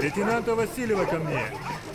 Leytenant Vasileva kâ mne!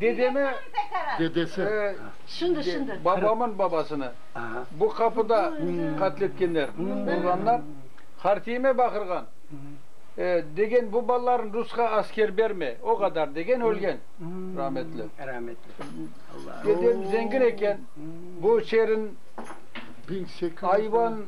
dedemi, dedesi, babamın babasını bu qapıda qatletkenler, urğanlar, Hartiyime baqırğan, degen bu balalarnı rusqa asker berme, o qadar degen ölgen, rahmetli. Dedem zengin eken, bu şerin ayvan,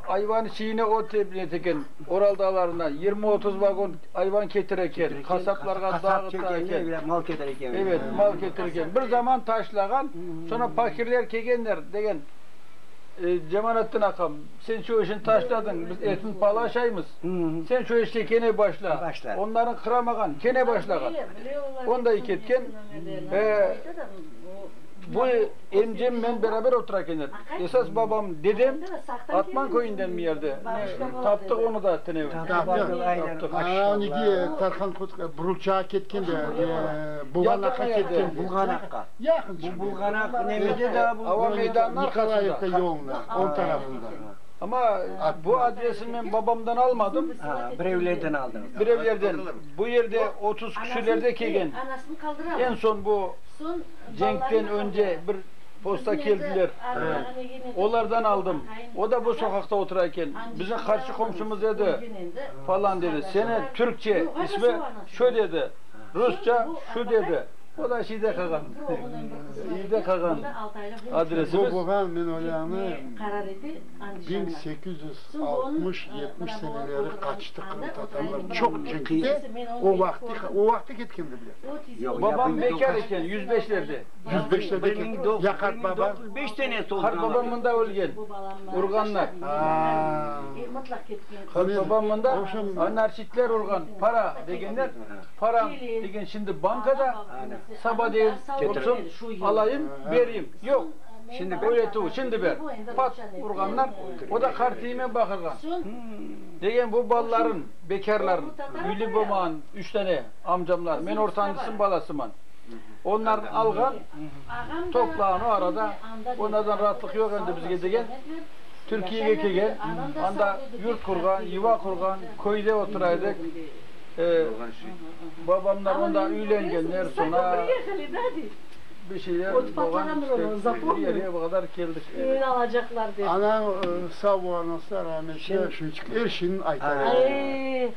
ayvan çiyine ot ep eken, Oral dağlarından yirmi-otuz vagon. Ayvan ketir eken, qasaplarğa dağıta eken. Mal ketir eken. Evet, mal ketir eken. Bir zaman taşlağan, soñra fakirler kelgenler, degen. Cemalettin aqam, sen şu işni taşladıñ, biz etini palaşaymız, sen şu işke kene başla. Onlarnı qıramağan, kene başlağan. Onday ketken. Bu. Emcem, men beraber oturaken edik. Esas babam, dedem Atman köyünden mi yerdi. Taptıq onı da tınevni. Taptıq. Aneki Tarhan Kotko Burulçağa ketken de, Bulğanaqqa ketken. Bulğanaqqa. Yaqın şimdi. Bu Bulğanaq nemede daa bu? Ava meydanına. Nikolayevka yoluna, o tarafında. Amma bu adresi men babamdan almadım. Ha, birevlerden aldınız. Birevlerden. Bu yerde otuz küsürlerde kelgen. En son bu. Cenkten önce bir posta keldiler, olardan aldım. O da bu soqaqta otura eken, bizim qarşı qomşumız edi, falan dedi. Seni türkçe ismi şu dedi, rusça şu dedi. O da şeyde qalğan, evde qalğan adresimiz. Boboğan, men olâni, biñ sekiz yüz altmış, yetmiş seneleri qaçtı qırımtatarlar çoq cenkte, o vaqtı, o vaqtı ketkendi bile. Babam bekâr eken, yüz beşlerde. Yüz beşlerde eken. Ya qart babañ? Qart babam mında ölgen, urğanlar. Qart babam mında, narçitler urğan, para degenler, param degen şimdi bankada, saba deyin, olsun, alayım, bereyim. Yoq, öretüv, şimdi ber. Pat urğanlar, o da qartiyime baqırğan. Degen bu balalarım, bekârlarım, üyli bolmağan üç dane. Amcamlar, men ortancısınıñ balasıman. Onlarnıñ alğan toprağını o arada, onlardan raatlıq yoq endi bizge degen, Türkiyege kelgen, anda yurt qurğan, yuva qurğan, köyde otura edik. Babamlar onda üylengenler, soñra bir şeyler olğan işte, bu yere bu qadar keldik. Anañ sağ bola, anası da rahmetli, şunıñ içün er şeyni ayta.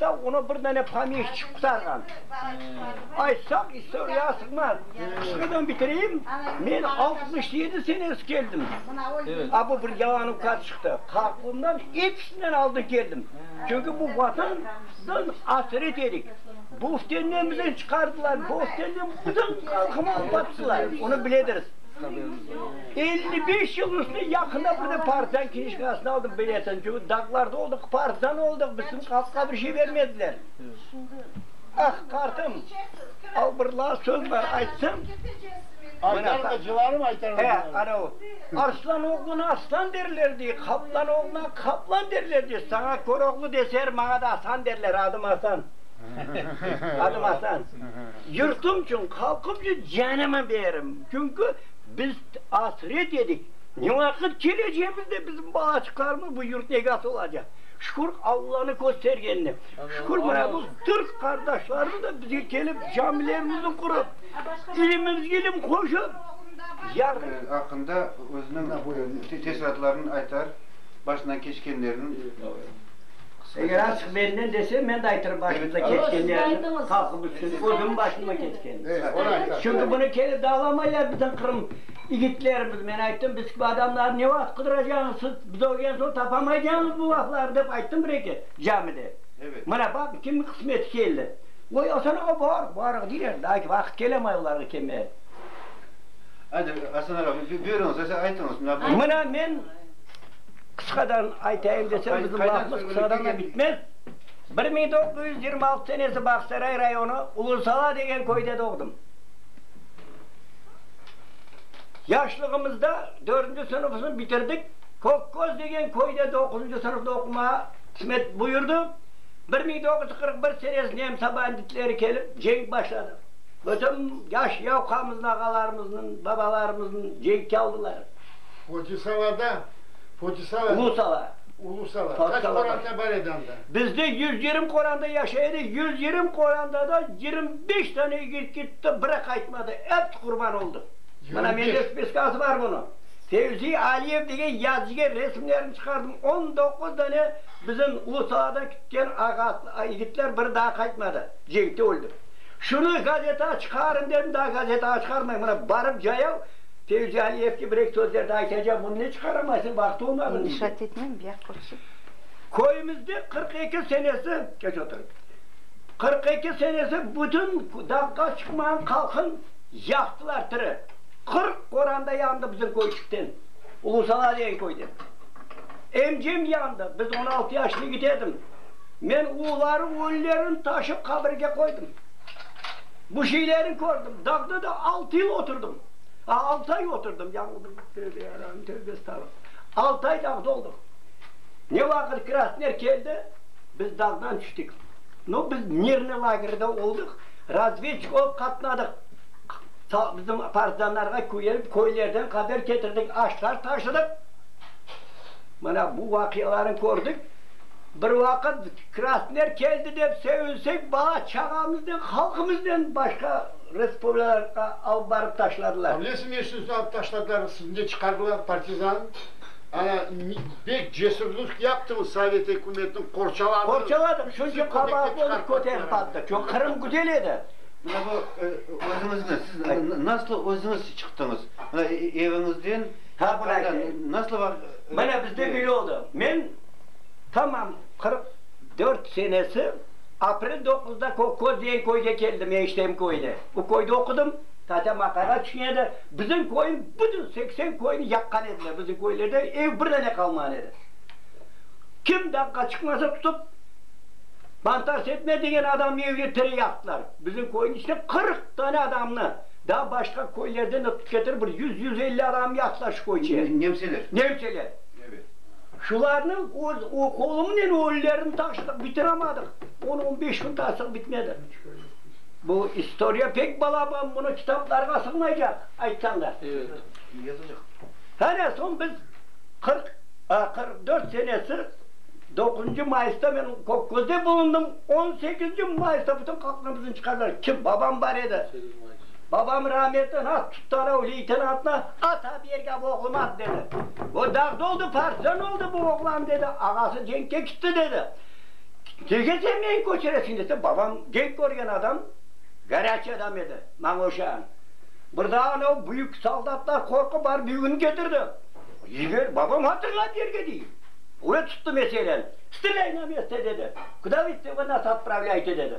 Da onı bir dane pomeşçik qurtarğan. Aytsam, istoriyağa sığmaz. Qısqadan bitireyim, men altmış yedi senesi keldim. A bu bir yalan ukat çıqtı. Qartulumdan episinden aldın keldim. Çünki bu Vatandan asret edik. Büftenden bizni çıqardılar, büftenden bütün halqımı alıp attılar. Onı biledirs. Elli beş yıl üstü yaqında bir de partizan knijkasını aldım, biletinci, dağlarda oldıq, partizan oldıq, bizim halqqa bir şey bermediler. Ah, qartım, al bir laf söz bar, aytsam. Aytarım, acılarım aytarım. He, ana o, arslan oğluna arslan derler, dey, qaplan oğluna qaplan derler, dey, saña köroğlu deser, maña da Asan derler, adım Asan. Adım asan. Yurtum içün, halqım içün canımı berim. Çünki biz asret edik. Ne vaqıt kelecegimizde bizim balaçıqlarımız bu yurtnıñ egası olacaq? Şükür, Allanıñ köstergenine. Şükür, mına bu türk qardaşlarımız da bizge kelip, camilerimizni qurıp, ilimimizge ilim qoşıp, yarın. Aqqında özüniñ teessuratlarını aytar, başından keçkenlerini. Eger açıq benden dese, men de aytırım başımıza keçkenlerni, halqımız içün, özümniñ başımdan keçkenini. Çünki bunı kele de alamaylar bizim Qırım igitlerimiz. Men ayttım, biz kibi adamlarnı ne vaqıt qıdıracağıñız siz? Biz ölgen soñ tapamaycağıñız bu laflarnı, dep ayttım bir eki camide. Mına baqıñ, kimniñ qısmeti keldi. Oy, Asan ağa, bar, barıq, deyler. Daa ki vaqıt kelemay olarğa kelmege. Aydın, Asan ağa, buyurıñız, aytıñız. Mına men. Qısqadan aytayım desem, bizim lafımız qısqadan da bitmez. Bir mıñ doqquz yüz yirmi altı senesi Bağsaray rayonı Uluzala degen köyde doğdım. Yaşlığımızda dördünci sınıfımızı bitirdik. Kökköz degen köyde doquzıncı sınıfta oqumağa qısmet buyurdı. Bir mıñ doqquz yüz qırq bir senesi nemsa banditleri kelip, cenk başladı. Bütün yaş yavqamızın, ağalarımıznıñ, babalarımıznıñ cenkke aldılar. Uluzalada. Ulu sala. Ulu sala. Kaç qoranda bar edi anda? Bizde yüz yirmi qoranda yaşay edi, yüz yirmi qoranda da yirmi beş tane yigit gitti, biri qaytmadı, episi qurban oldı. Mına mende spiskası bar bunıñ. Fevzi Aliyev degen yazıcıga resimlerini çıqardım, on doquz dane bizim Ulu saladan kitken yigitler biri daa qaytmadı, cenkte öldi. Şunı gazetağa çıqarıñ dedim, daa gazetağa çıqarmay, mına barıp cayav, Sevcan, eski bir eki sözlerni aytacam, bunı ne çıqaramaysıñ, vaqtı olmağını bildi. İnşaat etmem, biyaq körsin. Köyümizde qırq eki senesi, keç oturıñ, qırq eki senesi bütün dağqa çıqmağan qalqın yaqtılar tiri. Qırq qoranda yandı bizim köyçikten, Ulusala degen köyden. Emcem yandı, biz on altı yaşlı yigit edim. Men uları ölülerini taşıp qabirge qoydım. Bu şeylerni kördim. Dağda da altı yıl oturdım. Altı ay oturdım, yañıldım. Tövbe yarabim, tövbe estağfurullah. Altı ay dağda oldıq. Ne vaqıt Krasner keldi, biz dağdan tüştik. No, biz mirnıy lagerde oldıq, razvedçik olıp qatnadıq. Bizim partizanlarğa küyenip, köylerden haber ketirdik, aşlar taşıdıq. Mana bu vaqialarnı kördik. Bir vaqıt Krasner keldi dep sevinsek, bala-çağamıznen, halqımıznen başqa. Respublika alıp barıp taşladılar. Avlesi meşnusını alıp taşladılar, sizni de çıqardılar, partizan. Ana, bek cesürlük yaptıñız, sovet ükümetini qorçaladınız. Qorçaladıq, çünki qabaatlı olıp köterip qalktıq. Çoq, Qırım güzel edi. Mına bu, özüñizni, siz nasıl özüñiz çıqtıñız? Mına eviñizden, Ha, bunı aytayım. nasıl var? Mına bizde böyle oldı. Men tamam qırq dört senesi. Aprel doquzda Kokkoz degen köyge keldim, eniştemin köyüne. Bu köyde oqudım. Tatem aqayğa tüşüne edi. Bizim köyniñ bütün seksen köyni yaqqan ediler. Bizim köylerde ev bir dane qalmağan edi. Kim daqqa çıqmasa tutıp, Mantar Setme degen adamnıñ evine tire yaqtılar. Bizim köyniñ içinden qırq dane adamnı, daa başqa köylerden de tutıp ketirip, bir yüz, yüz elli adamı yaqtılar şu köyçe. Nemseler. Nemseler. Evet. Şularnıñ öz oqulımnen öllerini taşıdıq, bitiremadıq. On, on beş kün taşıdıq, bitmedi. Bu istoriya pek balaban, bunı kitaplarğa sığmaycaq, aytsañ da. Hane, soñ biz qırq, a, qırq dört senesi doquzuncı mayısta men Kökközde bulundım, on sekizinci mayısta bütün qalqnımıznı çıqardılar. Kim? Babam bar edi. Babam rahmetli has tuttanov leytenantna ata bergâv oğlum ad berdi. O dağda oldı, partizan oldı bu oğlan, dedi. Ağası cenkke kitti, dedi. Nege sen meni köçüresiñ, dese, babam cenk körgen adam, garâçiy adam edi, maña oşağan. Bir daa anau büyük soldatlar qorqıp barıp yüküni ketirdi. Yiber, babam hatırlap yerge dey. Ve tuttı meseleni. Strelây na mesto, dedi. Kuda vı istego nas otpravlâyte, dedi.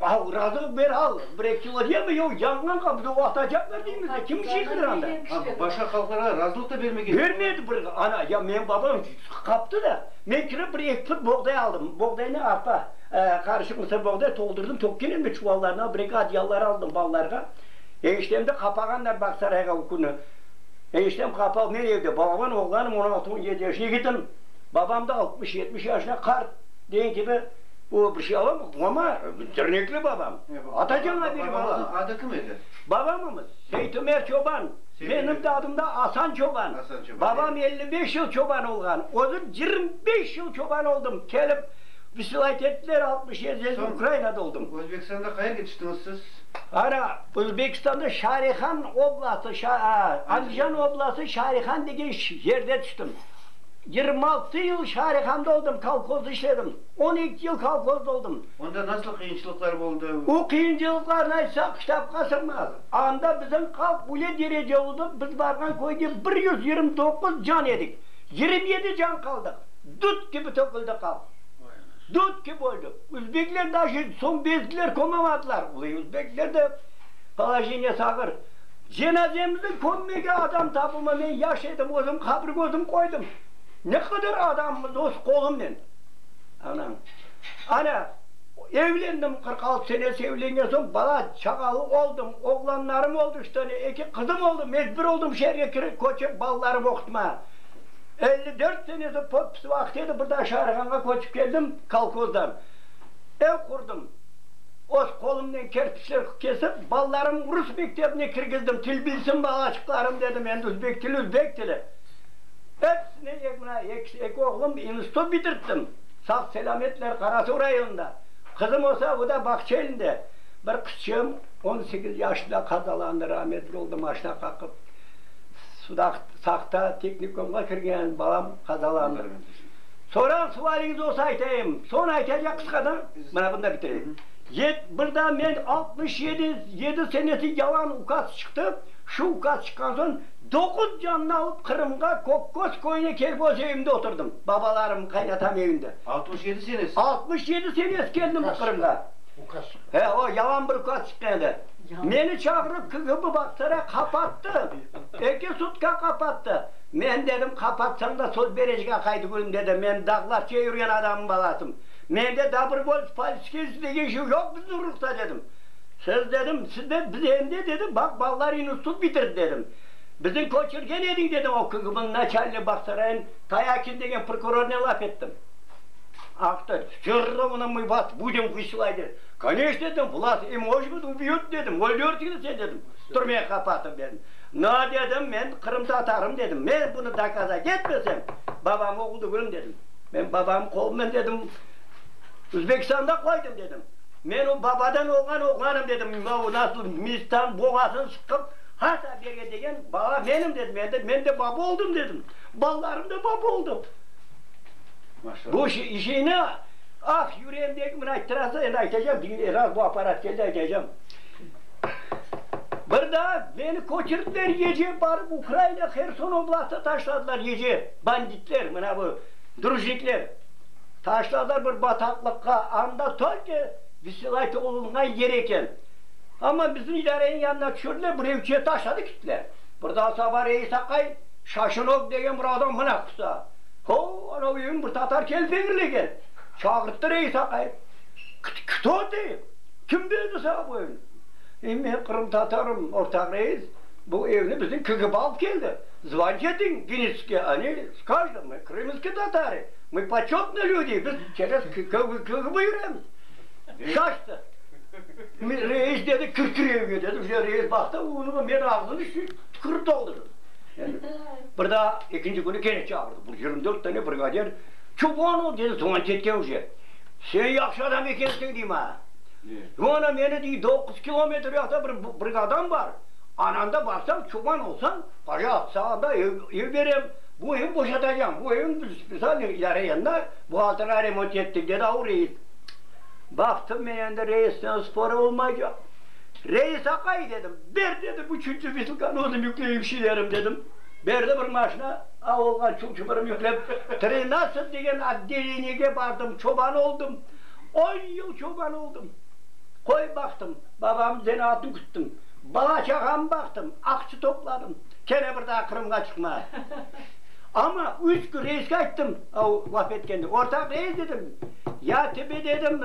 Ağıralıq bir al, bir-eki kilo deme, yoq, yangın qapıda o atacaqlar deymizde, kim işi qıranda? Ama başqa halqlarğa razılıq da bermegen. Bermedi bir, ana, ya menim babam qaptı da, men kirip bir eki put boğday aldım, boğdaynı arpa, qarışıq mısır boğday toldurdım, tökkenimde çuvallarına, bir-eki adyallar aldım balalarğa. Eniştemdi qapağanlar Bağsarayğa o künü. Eniştem qapalı, men evde balaman, oğlanım on altı, on yedi yaş yigitim, babam da altmış, yetmiş yaşında qart, degen kibi. O bir şey alamı? Mama, dernekli babam. Atacan abiri bala. Babamızın adı kim edi? Babamımız, Seytümer çoban. Benim de adım da Asan çoban. Babam elli beş yıl çoban olğan. Özüm yirmi beş yıl çoban oldım. Kelip vsilayet ettiler, altmış yedi yıl Ukrainada oldum. Özbekistanda qayerge yetiştiñiz siz? Ana, Özbekistanda Şarihan oblastı, Andijan oblastı Şarihan degen yerde tüştim. Yirmi altı yıl şaarihanda oldım, kolhozda işledim. On eki yıl kolhozda oldım. Onda nasıl qıyınçılıqlar oldı? O qıyıncılıqlarnı aytsaq, kitapqa sığmaz. Anda bizim halq öyle derece oldı, biz barğan köyde bir yüz yirmi doquz can edik, yirmi yedi can qaldıq. Dut kibi töküldi halq. Dut kibi öldük. Üzbekler daşı soñ bezdiler, kömemadiler. Olay, üzbekler de polojeniyesi ağır. Cenazemni kömmege adam tapılmay. Men yaş edim, özüm qabir közüm qoydım. Ne qadar adamımız öz qolumnen. Anañ. Ana, evlendim, qırq altı senesi evlengen soñ bala çağalı oldım. Oğlanlarım oldı üç tane, eki qızım oldı. Mecbur oldım şeerge kirip, köçip balalarımı oqutmağa. Elli dört senesi podpis vaqıt edi, bir daa Şaarğanğa köçip keldim kolkozdan. Ev qurdım. Öz qolumnen kerpiçler kesip, balalarımnı rus mektebine kirgizdim. Til bilsin balaçıqlarım, dedim, endi üzbek tili, üzbek tili. Episine, mına, eki oğlum institut bitirttim, sağ-selâmetler Qarasuv rayonında. Qızım olsa, o da bağça elinde. Bir qızçığım on sekiz yaşında qazalandı, rametli oldı maşina qaqıp. Saqta tehnikumğa kirgen balam qazalandı. Sorağız, sualiñiz olsa aytayım. Soñra aytacaq qısqadan. Mana bunda bitireyim. Yet, bir daa men altmış yedi, yedi senesi yalan ukaz çıqtı, şu ukaz çıqqan soñ doquz cannı alıp Qırımğa, Kokköz köyüne kelip öz evimde oturdım, babalarım, qaynatam evinde. Altmış yedi senesi? Altmış yedi senesi keldim Qırımğa. Ukaz çıqqan. He, o yalan bir ukaz çıqqan edi. Meni çağırıp KGB Bağçasarayğa qapattı, eki sutka qapattı. Men dedim, qapatsañ da söz berecek aq, Aydıgülüm, dedim, men dağlarça yürgen adamnıñ balasım. Mende dobrovolts politskesniy degen şey yoq bizim ruhta, dedim. Siz, dedim, sizde, biz endi, dedim, baq, balalar institut bitirdi, dedim. Biziñ köçürgen ediñ, dedim, o KGBniñ naçalniy Bahsarayın Tayaçin degen prokurornen laf ettim. Aktı, Всё ровno mı vas budim vıslay, dedi. Koneçno, dedim, vlas em oş bud ubiyot, dedim, öldürtüni sen, dedim, türmege qapatıp, dedim. No, dedim, men qırımtatarım, dedim, men bunı dokazat etmesem, babam oğul degilm, dedim. Men babamnıñ qolundan dedim, Uzbekistanda qoydım dedim. Men o babadan olğan oğlanım dedim. Mına o nasıl mizdan boğazını sıqıp hata bere degen bala menim dedim. Endi men de baba oldım dedim. Balalarım da baba oldı. Bu şeyni ah yüreğimdeki mına ayttırasıñ endi aytacağım diñle raz bu aparat keldi aytacağım. Bir daa meni köçürdiler ece barıp Ukraina Herson oblastına taşladılar ece. Banditler, mına bu drujnikler, taşladılar bir bataqlıqqa, anda tolko vısılayt olunğan yer eken. Amma bizim idareniñ yanına tüşürdiler, bir evçe taşladı kettiler. Birdan saba reis aqay, Şaşınok degen bir adam mına qusa. Hov, anau evni bir tatar kelip eñirlegen. Çağırttı reis aqay. Kto tı? Kim berdi saña bu evni? E, men qırımtatarım, ortaq reis, bu evni bizim KGB alıp keldi. Zvanjeti Gnitske, Oni s kajdım, mı krımskı tatari, mı početnı lüdi, biz çerez kıgıp yüremiz. Şaştı. Reis dedi, kir kir evge dedi, bu sefer reis baqtı, onıñ men ağzını tükürip toldırdım. Bir daa ekinci künü kene çağırdı, bu yirmi dört tane brigadir, Çubanov dedi Zvanjetke uje, sen yahşı adam ekensiñ, dey, maña. Mana meni, dey, doquz kilometr uyaqta bir brigadam bar, Ananda barsañ, çoban olsañ, para atsañ, anda ev, ev berem. Bu ev boşatacağım. Bu evni biz spesialnıy yarayanına buhalterğa remont ettik, dedi avu reis. Baqtım men endi reisten spor olmaycaq. Reis aqay, dedim, ber, dedim, üçünci vesiqanı özüm yükleyim şilerim, dedim. Berdi bir maşina, avulğa çul-çupurum yüklep, trinatsıt degen otdeleniyege bardım, çoban oldım. On yıl çoban oldım. Qoy baqtım, babamnıñ zenaatın küttim. Bala-çağam baqtım, aqçı topladım. Kene bir daa Qırımğa çıqma. Amma üç kün reisge ayttım, o laf etkende, Ortaq reis, dedim, ya tebe, dedim,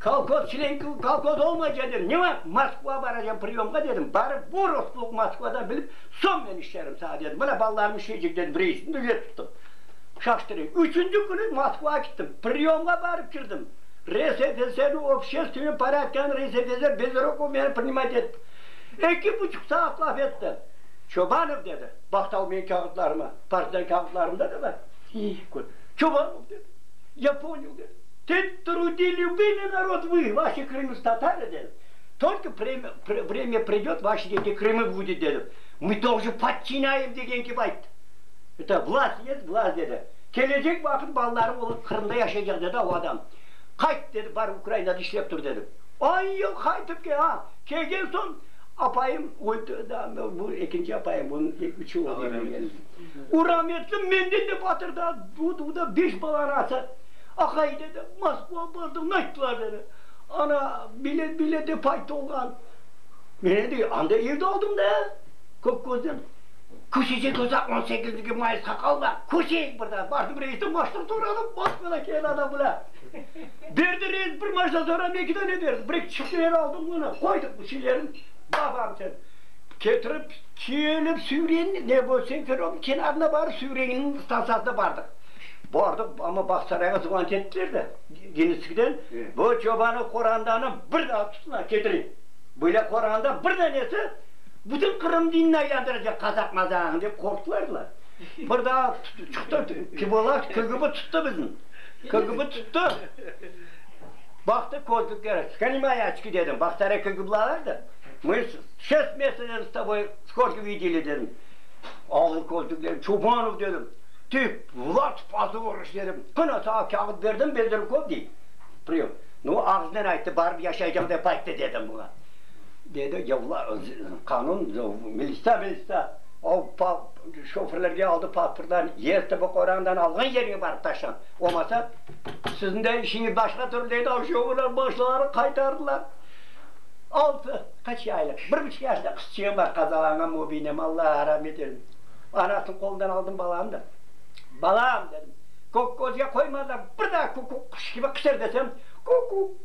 kolhoz, çlen kolhoz olmayca, dedim, ne vaqıt Moskva baracam priyomğa, dedim, barıp bu rusluq Moskvadan bilip, soñ men işlerim sağa, dedim. Mına balalarım işleycek, dedim, reisni de üye tuttum. Şaştırayım. Üçünci künü Moskvağa kittim. Priyomğa barıp kirdim. RSFSR-niñ obşestvenniy porâdkını RSFSR bez rokov menen prinimat etip, eki buçuq saat laf etti. Çobanov dedi, Bahtal menim kâğıtlarıma, partidan kâğıtlarımda da bar. Çobanov dedi, Ya ponyel, dedi, Sen trudi lübimıy narod vıy, vaşi Krımıs tatarı, dedi, tolko vremya pridet, vaşi deki Krımı vudit, dedi, mı toqjı podçinayım degen kibi ayttı. Eta, Vlast jest, vlast, dedi. Kelecek vaqıt balaları olıp Qırımda yaşaycaq, dedi o adam. Qayt, dedi, bar Ukrainada işlep tur, dedim. On yıl qaytıp kel, a, kelgen soñ apayım, bu ekinci apayım, bunıñ üç ulu oğlu eken. O rametli menden de batır da, o da, o da beş bala anası. Aqay, dedi, Moskva bardıq, nayttılar, dedi, ana, bilet, bilet dep ayttı oğlan. Meni de anda evde aldım da, Kökközden. Köşecek olsa on sekizniki mayısqa qalma, köşeyik bir daa, bardım reisden maştır soradım, Moskvadan kelen adam bile berdi reis, bir maşta soradım, eki dane berdi, bir-eki çifteler aldım onı, qoydıq bu şeylerin babam içün. Ketirip, kelip Süvren, ne bu, Senferobnıñ kenarına barıp Süvrenniñ stansiyasına bardıq. Bardıq, amma Bağçasarayğa zvant ettiler de, Genetskiden, bu çobanı, qorandanı bir daa tutun, ketirin, böyle qoranda bir danesi, Bütün Qırım dinine yandıracaq Qazaq mazağını dep qorqtılardılar. Bir daa tuttu çıqtı, kibolar, KGB tuttu bizni. KGB tuttu. Baqtı közlükler, skani moy oçki dedim, bax stare KGBlalardı. Мы şest mesecden s toboy skorki videli dedim. Ağır közlükler, Çobanov dedim, tü, Vlad pozoriş dedim. Qına sağa kâğıt berdim, Bezrukov dey. Prim. Nu ağıznen ayttı, barıp yaşaycam dep ayttı dedim buña. dedi yavlar, qanun, militsa, militsa, o pa, şoförlerge aldı pasportlarını, yez tibı qorandan alğan yerine barıp taşlañ, olmasa, siziñ de işiñiz başqa türlü, dedi, o şoförler başlarını qaytardılar. Altı, qaç aylıq, bir buçuq yaşında qızçığım bar, qazalanğan mübinim, Alla ramet eylesin, anasınıñ qolundan aldım balamnı da, balam, dedim, kökgözge qoymadılar, bir daa kukuk, quş kibi qışır desem, kukuk.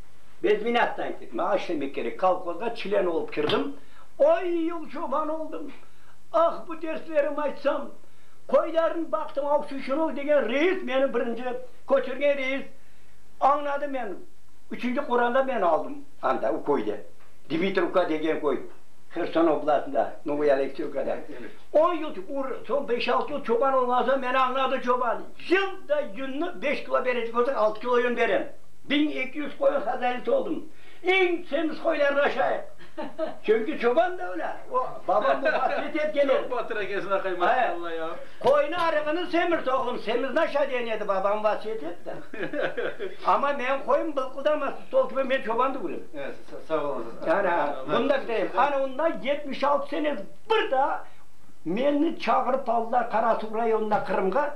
Biz minâtta ettik, maña işlemek kerek. Kolhozğa çlen olıp kirdim. On yıl çoban oldım. Ah, bu derslerim aytsam! Qoylarnı baqtım, Avçuçınov degen reis meni birinci köçürgen reis. Añladı meni. Üçünci quranda meni aldım anda, o köyde. Dmitrivka degen köy, Herson oblastında, Novoye Alekseyevkada. On yıl, soñ beş-altı yıl çoban olğan soñ meni añladı çoban. Yılda yünni beş kilo berecek olsa, altı kilo yün berem. Biñ eki yüz qoyun hazayinisi oldım. Eñ semiz qoylarnı aşayıq. Çünki çoban da ölâ. O, babam muvafiyet etken edi. Çoq batır ekensiñ, aqay, maşalla ya. Qoyunıñ arığını semirt, oğlum, semizni aşa, degen edi, babam vasiyet etti. Amma meñ qoyun bılqıldamasın, sol kibi men çobandı körem. Sağ olasız. Ana, bunı da bitireyim. Ana, unda yetmiş altı sene, bir daa meni çağırıp aldılar Qarasuvı rayonına Qırımğa.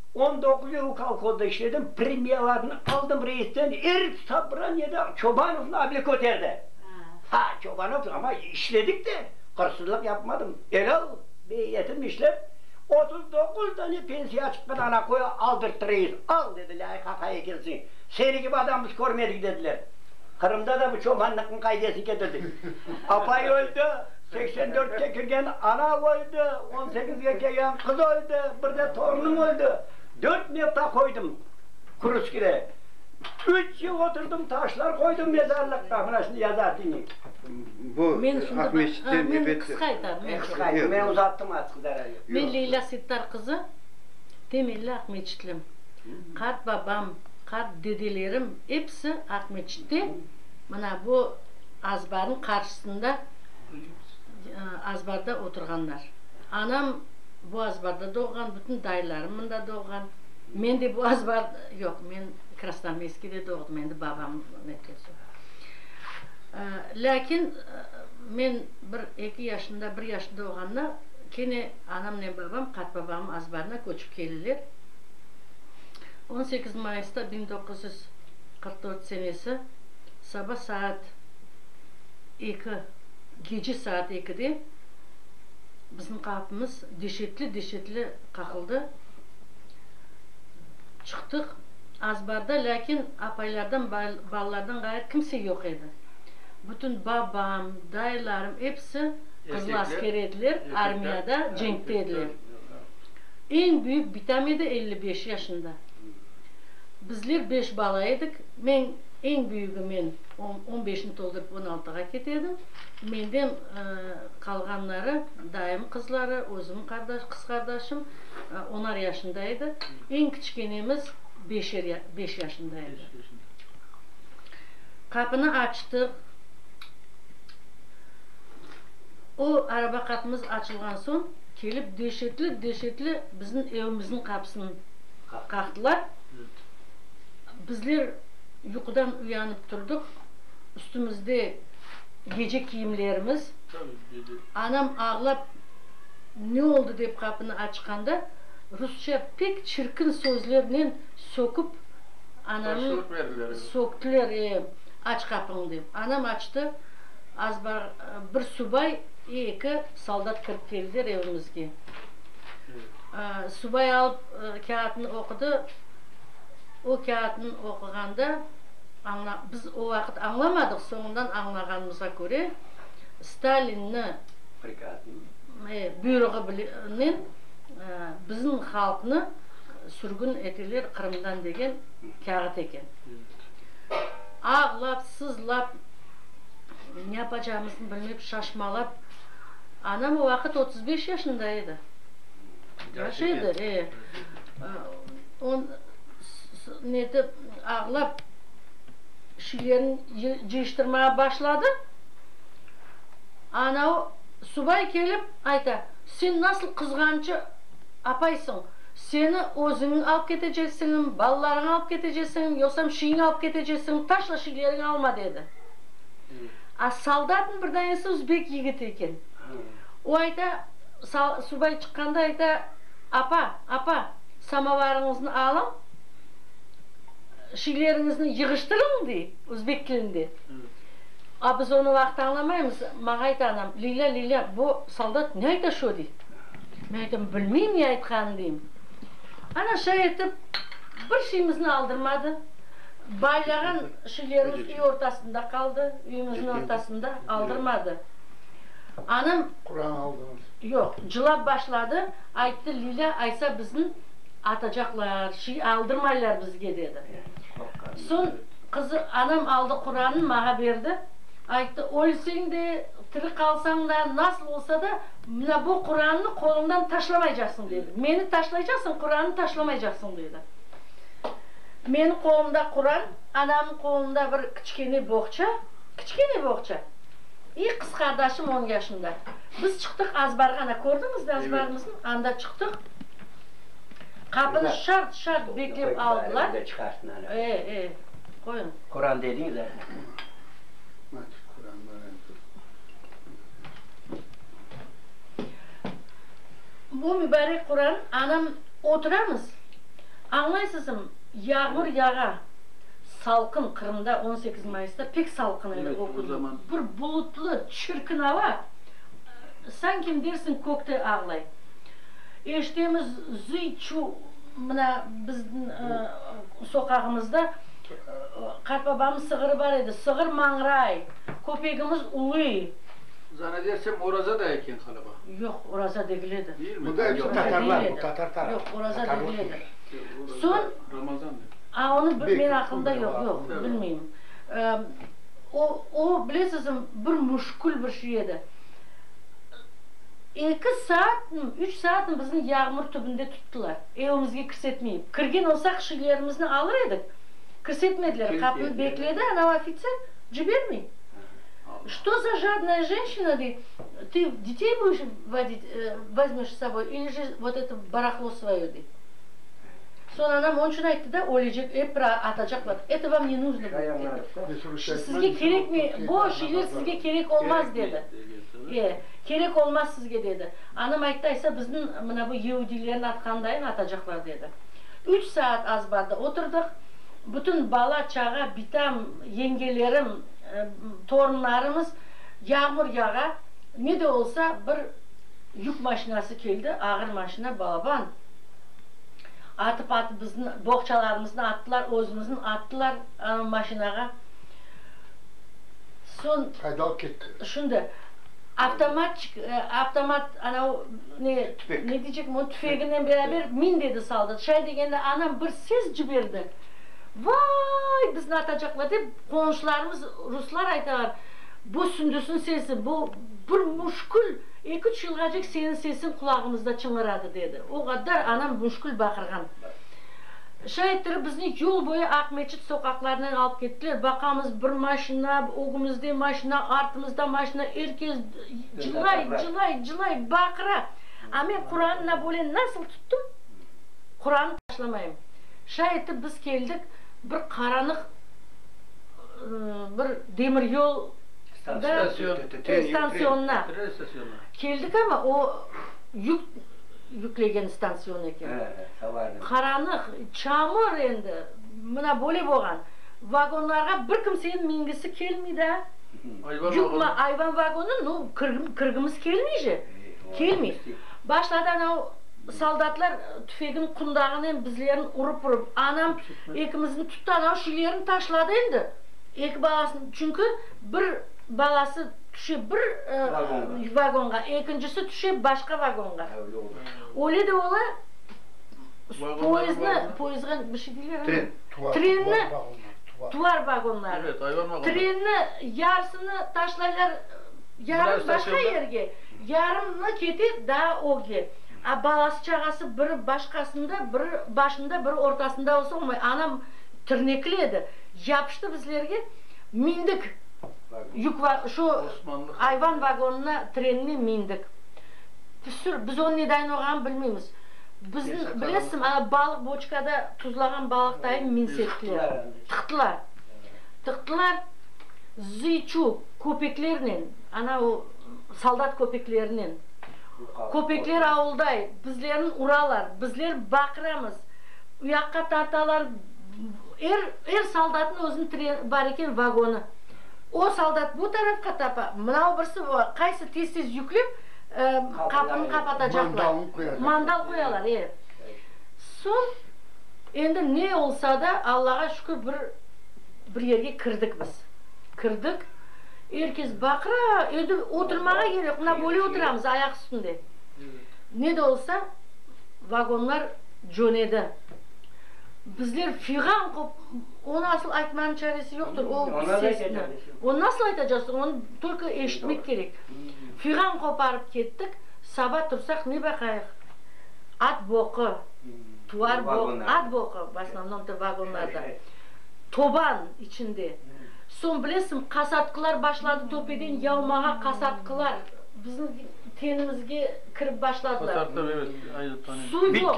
On doquz yıl kolhozda işledim, premiyalarnı aldım reisten, er sobraniyede Çobanovnı able köterdi. Ha, Çobanov, amma işledik de, hırsızlıq yapmadım, elâl beyyetimni işlep, otuz doquz dane pensiya çıqqan anaqoya aldırttı reis. Al, dedi, lâyqaqa ekensiñ, seni kibi adam biz körmedik, dediler. Qırımda da bu çobanlıqnıñ qaidesin ketirdik. Apay öldi. Seksen dörtke kirgen ana öldi, on sekizge kelgen qız öldi, bir de torunım öldi. Dört nevta qoydım Kurskide. Üç yıl oturdım, taşlar qoydım mezarlıqqa, mına şimdi yazatini. Bu Men şimdi bak, Aqmescitte ha, men nöbet. qısqa aytayım, men Qısqa aytın, men uzattım artıq, zararı yoq. Men Leylâ Settar qızı, temelli aqmescitliyim. Qart babam, qart dedelerim, episi Aqmescitte, mına bu. Azbarnıñ qarşısında azbarda oturğanlar. Anam bu azbarda doğğan, bütün dayılarım mında doğğan. Men de bu azbar, yoq, men Krasnoarmeyskiyde doğdım, endi babam netlesi. Lâkin men bir eki yaşında, bir yaşında olğanda kene anamnen babam qartbabamnıñ azbarına köçip keleler. On sekiz mayısta biñ doquz yüz qırq dört senesi. saba saat eki, gece saat ekide bizim qapımız deşetli-deşetli qaqıldı. Çıqtıq, az barda, lâkin apaylardan, balalardan ğayır kimse yoq edi. Bütün babam, dayılarım, episi qızıl asker ediler, armiyada, cenkte ediler. Eñ büyük bitam edi, elli beş yaşında. Bizler beş bala edik. Men. Eñ büyügi men on beşni toldurıp on altığa ketedim. Menden qalğanları, dayım qızları, özüm qız qardaşım onar yaşında edi. Eñ kiçkenemiz beş yaşında edi. Qapını açtıq. O araba qapımız açılğan soñ kelip deşetli-deşetli bizim evimizniñ qapısını qaqtılar. Bizler yuqudan uyanıp turdıq, üstümizde gece kiyimlerimiz. Anam ağlap ne oldı dep qapını açqanda, rusça pek çirkin sözlernen söküp anamnı söktiler, e, aç qapıñı dep. Anam açtı, az bar bir subay, e, eki soldat kirip keldiler evimizge. Subay alıp kâğıtnı oqudı. O kâğıtnı oquğanda, añla, biz o vaqıt añlamadıq, soñundan añlağanımızğa köre, Stalinni, Prikazını. e, buyruğı bile, nen, e, bizim halqnı sürgün eteler Qırımdan degen kâğıt eken. Ağlap, sızlap, ne yapacağımıznı bilmep, şaşmalap, anam o vaqıt otuz beş yaşında edi. Yaş edi, e. on netip ağlap şilerin cıyıştırmağa başladı. Ana o subay kelip ayta, Sen nasıl qızğançı apaysıñ? Seni özüñi alıp keteceksiñim, balalarıñı alıp keteceksiñim, yosam şiiñi alıp keteceksiñim, taşla şileriñi alma, dedi. A soldatnıñ bir danesi özbek yigiti eken. O ayta, subay çıqqanda ayta, Apa, apa! Samovarıñıznı alıñ, şeyleriñizni yığıştırıñ, dey, özbek tilinde. A biz onı vaqıt añlamaymız. Maña ayta anam, Lilâ, Lilâ, bu soldat ne ayta şu, dey. Men aytam, bilmeyim ne aytqanın, deyim. Ana şay etip, bir şeyimizni aldırmadı. Baylağan şeylerimiz üy ortasında qaldı, üyümizniñ ortasında, aldırmadı. Anam. Quran aldınız. Yoq, cılap başladı. Ayttı, Lilâ aytsa bizni atacaqlar, şiy aldırmaylar bizge, dedi. Soñ qızı, anam aldı Quranı maña berdi, ayttı, Ölseñ de, tiri qalsañ da, nasıl olsa da, mına bu Qurannı qoluñdan taşlamaycaqsıñ, dedi. Meni taşlaycaqsıñ, Qurannı taşlamaycaqsıñ, dedi. Meniñ qolumda Quran, anamnıñ qolunda bir kiçkene boğça, kiçkene boğça, i qız qardaşım on yaşında. Biz çıqtıq azbarğa, ana, kördiñizmi azbarımıznı? Anda çıqtıq, qapını şart-şart beklep aldılar. E, e, qoyuñ. Quran dediñiz a? Bu mübarek Quran, anam, oturamız, añlaysızmı, yağmur yağa. Salqın, Qırımda on sekiz mayısta pek salqın edi o künü. Bir bulutlı, çirkin ava, sankim dersiñ kökte ağlay. Eşitemiz, zıy-çuv, mına biziñ soqağımızda qartbabamnıñ sığırı bar edi, sığır mañray, köpegimiz uluy. Zannedersem, oraza da eken ğaliba. Yoq, oraza degil edi. Yoq, oraza degil edi. Soñ. Ramazan edi. A, onı bir, menim aqlımda yoq, yoq, bilmeyim. O, o, bilesizmi, bir müşkül bir şey edi. Eki saatmi, üç saatmi bizni yağmur tübünde tuttılar, evimizge kirsetmeyip. Kirgen olsaq, şeylerimizni alır edik, kirsetmediler, qapını bekledi anav ofitser, cibermey. Что za jadnaya jenşina, dey, tı detey budiş vodit, vozmeş s soboy ili ji vot eto barahlo svoye, dey. Soñ anam onçün ayttı da, Ölecek, ep bir atacaqlar, eto vam ne nuzno bu, dedi. Sizge kerekmi, bo şeyler sizge kerek olmaz, dedi. E, kerek olmaz sizge, dedi. Anam ayttı, aysa bizniñ mına bu yeudilerni atqandayın atacaqlar, dedi. Üç saat azbarda oturdıq, bütün bala, çağa, bitam, yengelerim, torunlarımız, yağmur yağa, ne de olsa bir yük maşinası keldi, ağır maşina, balaban. Atıp-atıp bizni boğçalarımıznı attılar, özümüzin attılar ana maşinağa. Soñ. Qayda alıp ketti? Şimdi, avtomatçik, avtomat anav ne, ne deycekmi onu, tüfeginen beraber min dedi soldat. Şay degende anam bir ses ciberdi, Vay, bizni atacaqlar! dep, qonşularımız ruslar aytalar, bu Sündüsniñ sesi, bu bir müşkül. Eki-üç yılğacık seniñ sesiñ qulağımızda çıñıradı, dedi. O qaddar anam müşkül baqırğan. Şa ettirip bizni yol boyu Aqmescit soqaqlarınen alıp kettiler. Baqamız, bir maşina, ögümüzde maşina, artımızda maşina, er kes cılay, cılay, cılay, baqıra. A men Quranı Nabolen nasıl tuttum, Quranı taşlamayım. Şa etip biz keldik bir qaranıq bir demir yol. da stantsionna keldik, amma o yük yüklegen stantsion eken. Qaranıq, çamur endi, mına böyle bolğan. Vagonlarğa bir kimseniñ mingisi kelmey da. Yük ma, ayvan vagonu, nu, kirgimiz kelmey je, kelmey. Başladı anau soldatlar tüfeginiñ qundağınen bizlerni urıp-urıp, anam ekimizniñ tuttı, anau şilerini taşladı endi. Eki balasını, çünki bir balası tüşe bir vagonğa, ekincisi tüşe başqa vagonğa. Öyle de ola, poezdni, poezdğa bir şey deyler, trenni, tuvar vagonları, trenni yarısını taşlaylar, yarım başqa yerge, yarımı kete daa ögge. A balası, çağası biri başqasında, biri başında, biri ortasında olsa olmay. Anam tırnekli edi. Yapıştı bizlerge, mindik yük, şu ayvan vagonına, trenine mindik. Püsür, biz onı nedayin orğanını bilmeymiz. Bizni, bilesim, ana balıq boçkada, tuzlağan balıq dayım minsettiler. Tıqtılar. Tıqtılar, zıyçu köpeklernen, ana o soldat köpeklerinen. Köpekler avulday, bizlerni uralar, bizler baqıramız, uyaqqa tartalar, Er, er soldatnıñ özüniñ treni bar eken, vagonı. O soldat bu tarafqa tapa, mınau birisi va qaysı tez-tez yüklep, e, qapını qapatacaqlar. Mandalnı qoyalar. Mandal qoyalar, e. Soñ, endi ne olsa da, Allağa şükür, bir, bir yerge kirdik biz. Kirdik, er kes baqıra, endi oturmağa yer yoq, mına böyle oturamız, ayaq üstünde. Ne de olsa, vagonlar cönedi. Bizler figam qop, onı asıl aytmağın çaresi yoqtır, o sesni. Onı nasıl aytacaqsıñ, onı tolko eşitmek kerek. Figam qoparıp kettik, saba tursaq ne baqayıq? At boqı, tuvar boq, at boqı, v osnovnom to vagonlarda, toban içinde. Soñ bilesiñ, qasatqılar başladı töpeden yavmağa, qasatqılar bizim tenimizge kirip başladılar. Suv yoq.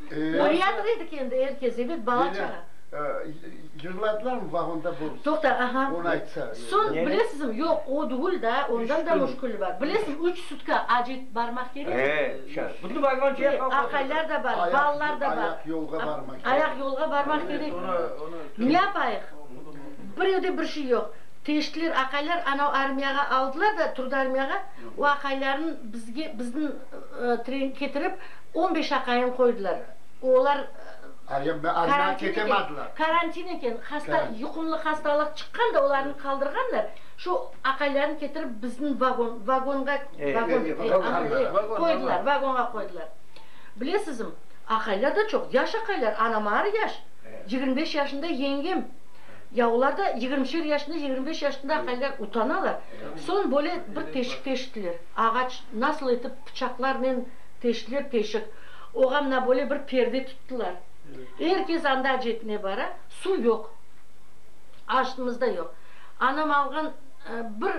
Oriyatov edik endi, er kez, ebet, bala-çağa. Yırladılarmı vagonda bu? Toqta, aha. Onı aytsa. Soñ, bilesizmi, yoq, o degil da, ondan da müşküli bar. Bilesiz, üç sutka ac etip barmaq kerekmi? He, şa, bütün vagon şeye qalq oturdı. Aqaylar da bar, balalar da bar. Ayaq yolğa barmaq kerekmi? Ayaq yolğa barmaq kerekmi? Ne yapayıq? Bir evde bir şey yoq. Teştiler, aqaylar anav armiyağa aldılar da, Trudarmiyağa, o aqaylarnıñ bizge, bizniñ, tren ketirip, On beş aqayın qoydılar. Olar karantin eken, hasta, yuqumlı hastalıq çıqqan da olarnı qaldırğanlar, şu aqaylarnı ketirip biziñ vagon, vagonğa, vagon, qoydılar, vagonğa qoydılar. Bilesizim, aqaylar da çoq, yaş aqaylar, anam ağır yaş, yigirmi beş yaşında yengem, ya olar da yigirmişer yaşında, yigirmi beş yaşında aqaylar, utanalar. Soñ böyle bir teşik teştiler, ağaç, nasıl etip bıçaqlarnen, Teştiler teşik. Oğa mına böyle bir perde tuttılar. Er kes anda acetine bara, suv yoq. Aşnımız da yoq. Anam alğan bir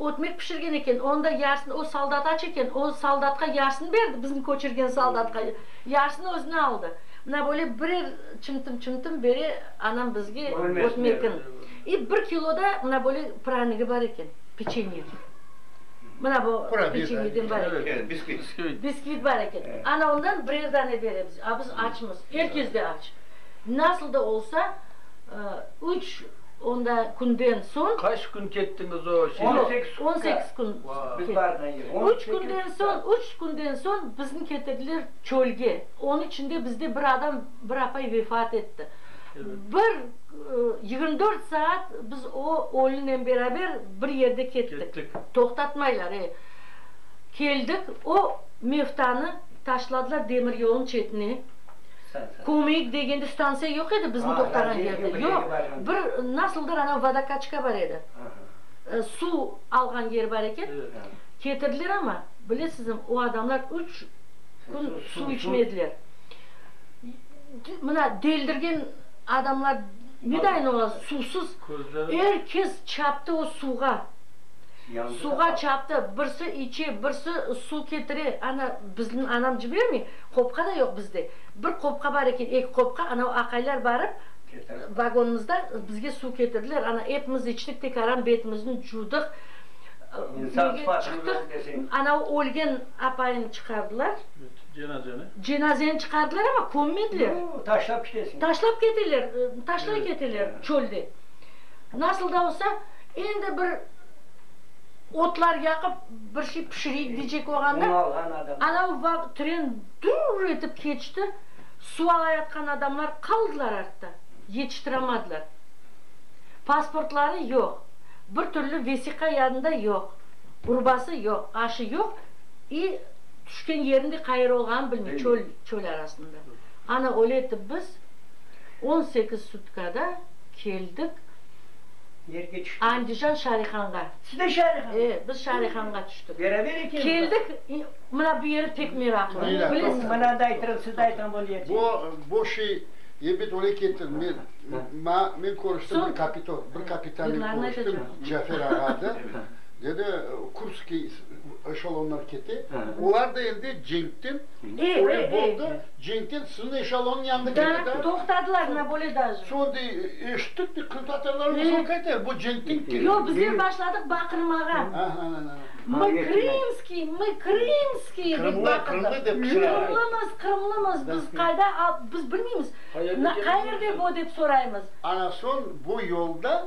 ötmek pişirgen eken, onı da yarısını o soldat aç eken, o soldatqa yarısını berdi, bizni köçürgen soldatqa, yarısını özüne aldı. Mına böyle birer çımtım-çımtım bere anam bizge ötmekin. İ bir kilo da mına böyle pranigi bar eken, peçenye. Mına bu peçenyeden bar eken. Bisküvit. Bisküvit bar eken. Ana ondan birer dane beremiz. A biz açmız. Er kes de aç. Nasıl da olsa, üç onda künden soñ. Qaç kün kettiñiz o şeye? On sekiz kün. On sekiz kün kettik. Üç künden soñ, üç künden soñ bizni ketirdiler çölge. Onıñ içinde bizde bir adam, bir apay vefat etti. Bir yigirmi dört saat biz o ölünen beraber. Bir yerde kettik. Toqtatmaylar, e. Keldik, o Mevtanı taşladılar demir yolnıñ çetine. Kömeyik degende stantsiya yoq edi biziñ toqtağan yerde. Yoq, bir nasıldır anav vodokaçka bar edi. Suv alğan yer bar eken. Ketirdiler ama, bilesizmi, o adamlar üç kün suv içmediler. Mına deldirgen adamlar nedayin ola suvsız? Er kes çaptı o suvğa. Suvğa çaptı. Birsi içe, birsi suv ketire. Ana, bizni anam cibermey, qopqa da yoq bizde. Bir qopqa bar eken, eki qopqa, ana o aqaylar barıp, vagonımızda bizge suv ketirdiler. Ana, epimiz içtik, tek aram betimizin cudıq. Çıqtıq, ana o ölgen apayını çıqardılar. Cenazeni? Cenazeni çıqardılar, amma kömmediler. Yo, taşlap ketesini. Taşlap keteler, taşlay keteler çölde. Nasıl da olsa, endi bir otlar yaqıp, bir şey pişireyik deycek olğanda, anau vaq, tren dur etip keçti, suv alayatqan adamlar qaldılar artta, yetiştiramadılar. Pasportları yoq, bir türlü vesiqa yanında yoq, urbası yoq, aşı yoq, i, Tüşken yerin de qayır olğanın bilmey, çöl, çöl arasında. Ana öyle etip biz on sekiz sutkada keldik Nerge tüştüñiz? Andijan Şarihanğa. Siz de Şarihanğa? E, biz Şarihanğa tüştük. Beraber ekeniz ba? Keldik, i, mına bu yeri pek meraklı, Öyle, tamam. bilesiz mi? Mına da aytırım, siz de aytırım bu niyeti. Bu, bu şey, ebet öyle kettim, men, m, ma, men körüştim bir Soñ- kapito, bir kapitannen Yıllarına körüştim, yetecek. Cafer ağa adı. Dedi, Kurskiy, eşalonlar kete, olar da endi cenkten böyle boldı, cenkten siziñ eşalonıñ yanına kete da. Toqtadılar, mına böyle daje. Soñ dey, eşittik dey, qırımtatarlar olsa qaytar, bu cenkten kete. Yoq, bizler başladıq baqırmağa. Mı krımskiy, mı krımskiy dep baqırdıq. Qırımlımız, qırımlımız, biz qayda, biz bilmeymiz, qayerde bu dep soraymız. Ana soñ bu yolda.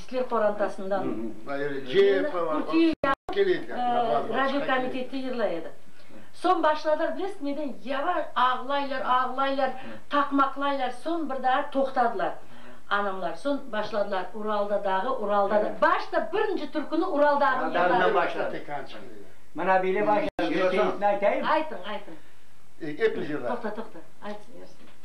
Türkler qorantasından Kürti yağıp, radio komitette yırlay edi. Soñ başladılar, bilesiz neden? Yavaş, ağlaylar, ağlaylar, qaqmaqlaylar, soñ bir daa toqtadılar anamlar. Soñ başladılar, Uralda dağı, Uralda dağı. Başta birinci türküni Ural dağınen yırladılar. Mına böyle başladı, bir seyisini aytayım. Aytıñ, aytıñ. Toqta, toqta, aytıñ, yarısını.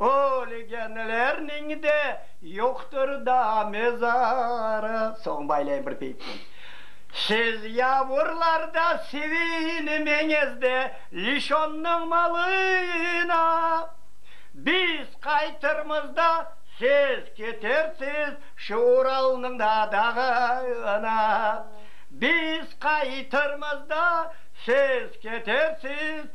O ölegenler neñde yoqtır da mezarı. Soñ baylayım bir peyitnen. Siz yavurlarda sevinmeñiz de Lişonnıñ malına. Biz qaytırmız da siz ketersiz şu Uralnıñ da dağına. Biz qaytırmız da siz ketersiz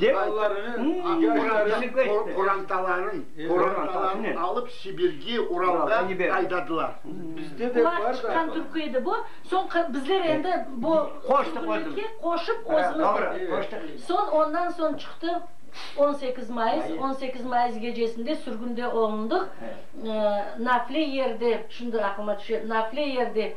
dep ayttı. Qorantalarını alıp Sibirge, Uralğa aydadılar. Ular çıqqan türkü edi bu. Soñ bizler endi bu türküniki qoşıp özümüz dedik. Soñ ondan soñ çıqtı on sekiz mayıs. On sekiz mayıs gecesinde sürgünde olundıq. Nafle yerde, şimdi aqlıma tüşe, nafle yerde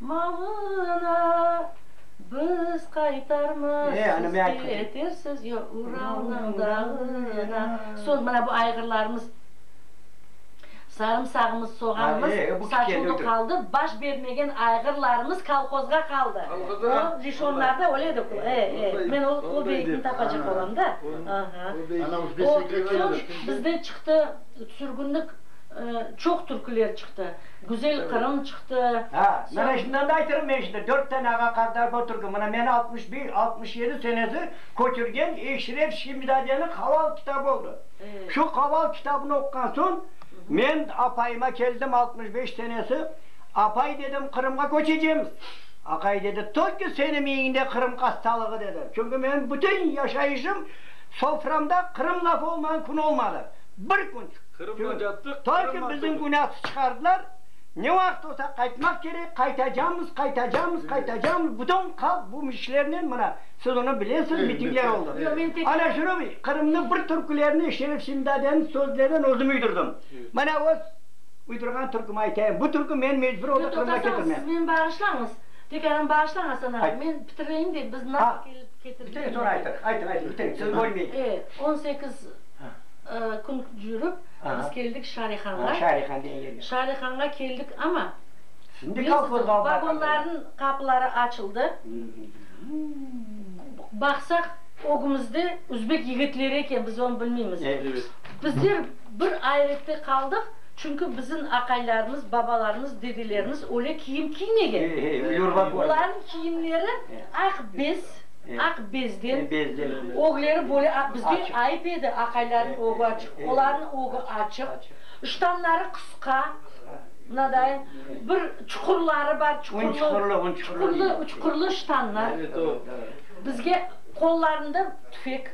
Malına biz qaytarmazsız, ketirsiz ya Uralnıñ dağına. Soñ mına bu ayğırlarımız, sarımsağımız, soğanımız satıldı qaldı, baş bermegen ayğırlarımız kolhozğa qaldı. O lişonlarda öyle edi ku, e, e, men o, o beytni tapacaq olam da. Aha. O, soñ bizde çıqtı, sürgünlik, çoq türküler çıqtı. Güzel Qırım çıqtı. Ha, mana şundan da aytırım men şimdi, dört tane ağa-qardaş bor Türkü, mana meni altmış bir, altmış yedi senesi köçürgen Eşref Şimzadeniñ Halal kitabı oldı. Şu Halal kitabını oquğan soñ, men apayıma keldim, altmış beş senesi, Apay, dedim, Qırımğa köçecemiz. Aqay dedi, Tolkü seni miyiñde Qırım qastalığı, dedi. Çünki menim bütün yaşayışım, soframda Qırım lafı olmağan kün olmadı. Bir kün. Toyki bizim günâsı çıqardılar, ne vaqıt olsa qaytmaq kerek, qaytacamız, qaytacamız, qaytacamız, bütün halq bu mişlernen mına siz onı bilesiz, mitingler oldı. Ana şunı Qırımnı bir türkülerini Şerif Simzadeniñ sözlerinen özüm üydürdim. Mına öz uydurğan türkümi aytayım. Bu türkü meni mecbur oldı Qırımğa ketirmek. Siz meni bağışlañız, pekârım bağışlañız ana, men bitireyim de biz nasıl kelip ketirdik. Bitirin, soñra aytırıq. Aytıñ, aytıñ, bitirin, sizni bölmeyim. On sekiz. kün yürip, biz keldik Şarihanğa. Şarihanğa keldik, amma, bilesiñizmi, vagonlarnıñ qapıları açıldı, baqsaq, ögümizde üzbek yigitleri eken, biz onı bilmeymiz. Bizler bir ayrette qaldıq, çünki bizim aqaylarımız, babalarımız, dedelerimiz öyle kiyim kiymegen. Olarnıñ kiyimleri aq bez. aq bezden, ögleri böyle aq, bizge ayıp edi, aqaylarnıñ ögü açıq, olarnıñ ögü açıq, ştanları qısqa, mınadayın, bir çuqurları bar, çuqurlı, çuqurlı, çuqurlı ştanlar, bizge qollarında tüfek,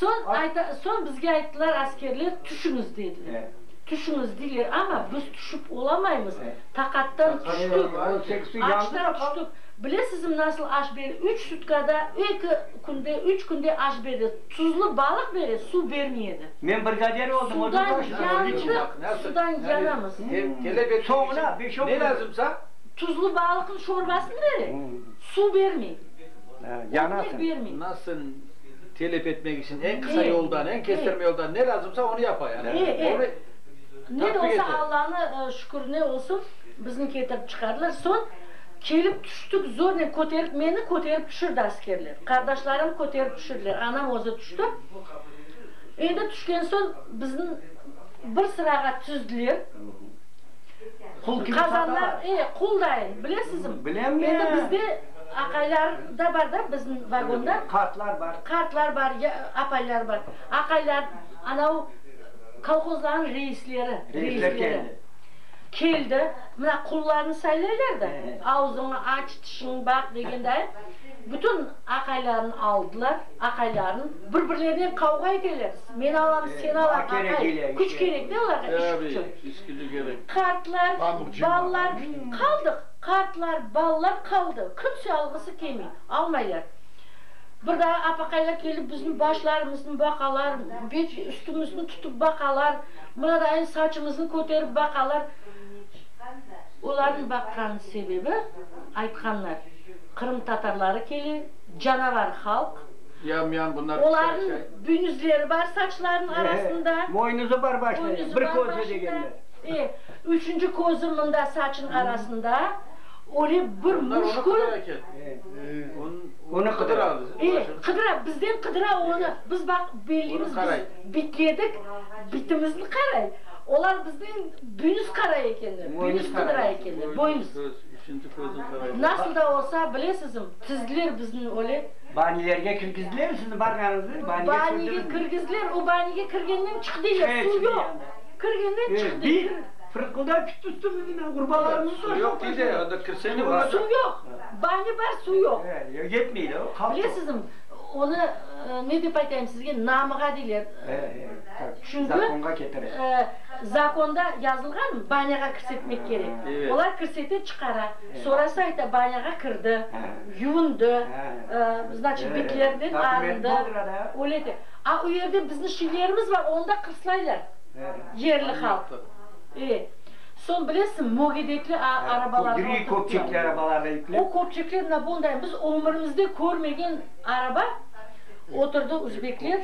soñ ayta, soñ bizge ayttılar askerler, tüşüñiz, dediler, tüşüñiz, deyler, amma biz tüşip olamaymız. Taqattan tüştik, açtan tüştik. Bilesizmi, nasıl aş bere? Üç sutkada, eki künde, üç künde aş bere. Tuzlu balıq bere, suv bermey edi. Men brigader oldım, o da taş. Sudan yandıq, sudan yanamız. Soñuna beş-on kün. Ne lazımsa? Tuzlu balıqnıñ şorbasını bere, suv bermey. Yanasıñ. Bermey. Nasıl telep etmek içün eñ qısa yoldan, eñ kestirme yoldan ne lazımsa, onı yapa yani. Eee, eee. Ne de olsa Allanı şükür ne olsun bizni ketirip çıqardılar. Soñ kelip tüştik zornen köterip meni köterip tüşirdi askerler. Qardaşlarım köterip tüşirdiler. Anam özü tüşti. Endi tüşken soñ bizni bir sırağa tüzdiler. Qul kibi qadalar. E, qul dayın, bilesizmi? Bilem men. Endi bizde aqaylar da bar da bizni vagonda. Qartlar bar. Qartlar bar, apaylar bar. Aqaylar anav. Kolhozlarnıñ reisleri, reisleri keldi, mına qullarnı saylaylar da, avzıñı aç, tişiñ baq degenday, bütün aqaylarını aldılar, aqaylarnı, bir-birlerine qavğa eteler, men alam, sen al, aqay, küç kerek de olarğa, iş küçü. Qartlar, balalar qaldıq, qartlar, balalar qaldı, kimse alğısı kelmey, almaylar. Bir daa apaqaylar kelip bizim başlarımıznı baqalar, bet üstümizni tutıp baqalar, mınadayın saçımıznı köterip baqalar. Olarnıñ baqqan sebebi, aytqanlar, qırımtatarları kele, canavar halq, olarnıñ büynüzleri bar saçlarınıñ arasında, boynuzı bar başında, e, üçünci közü mında saçınıñ arasında, öyle bir müşkül. Onı qıdıra. E, qıdıra, bizden qıdıra onı. Biz baq, bellimiz, biz bitledik, bitimizni qaray. Olar bizniñ büyümiz qaray ekenler, büyümiz qıdıra ekenler, boyumız. Nasıl da olsa, bilesizim, tizdiler bizni öyle. Banilerge kirgizdilermi sizni barğanıñızda? Banige kirgizdiler, o banige kirgenden çıqı deyler, suv yoq. Kirgenden çıqı deyler. Fırqıldap kitti üstümizden, urbalarımızı da. Suv yoq, kirsene. Suv yoq. Banya bar, suv yoq. Yetmeydi, qalb çoq. Bilesizmi, onı ne dep aytayım sizge, namığa deyler. Çünki, zakonğa ketire. Zakonda yazılğan, banyağa kirsetmek kerek. Olar kirsete, çıqara. Sonrası ayta, banyağa kirdi, yuvundı, znaçit, bitlerden arındı. Öyle de. A o yerde bizni şilerimiz bar, onda qırslaylar yerli halq. Soñ bilesiñ, mögedekli arabalarğa oturıp keldi. Gri köpçekli arabalarğa yüklep. O köpçekler na bunday, biz ömürimizde körmegen araba oturdı uzbekler.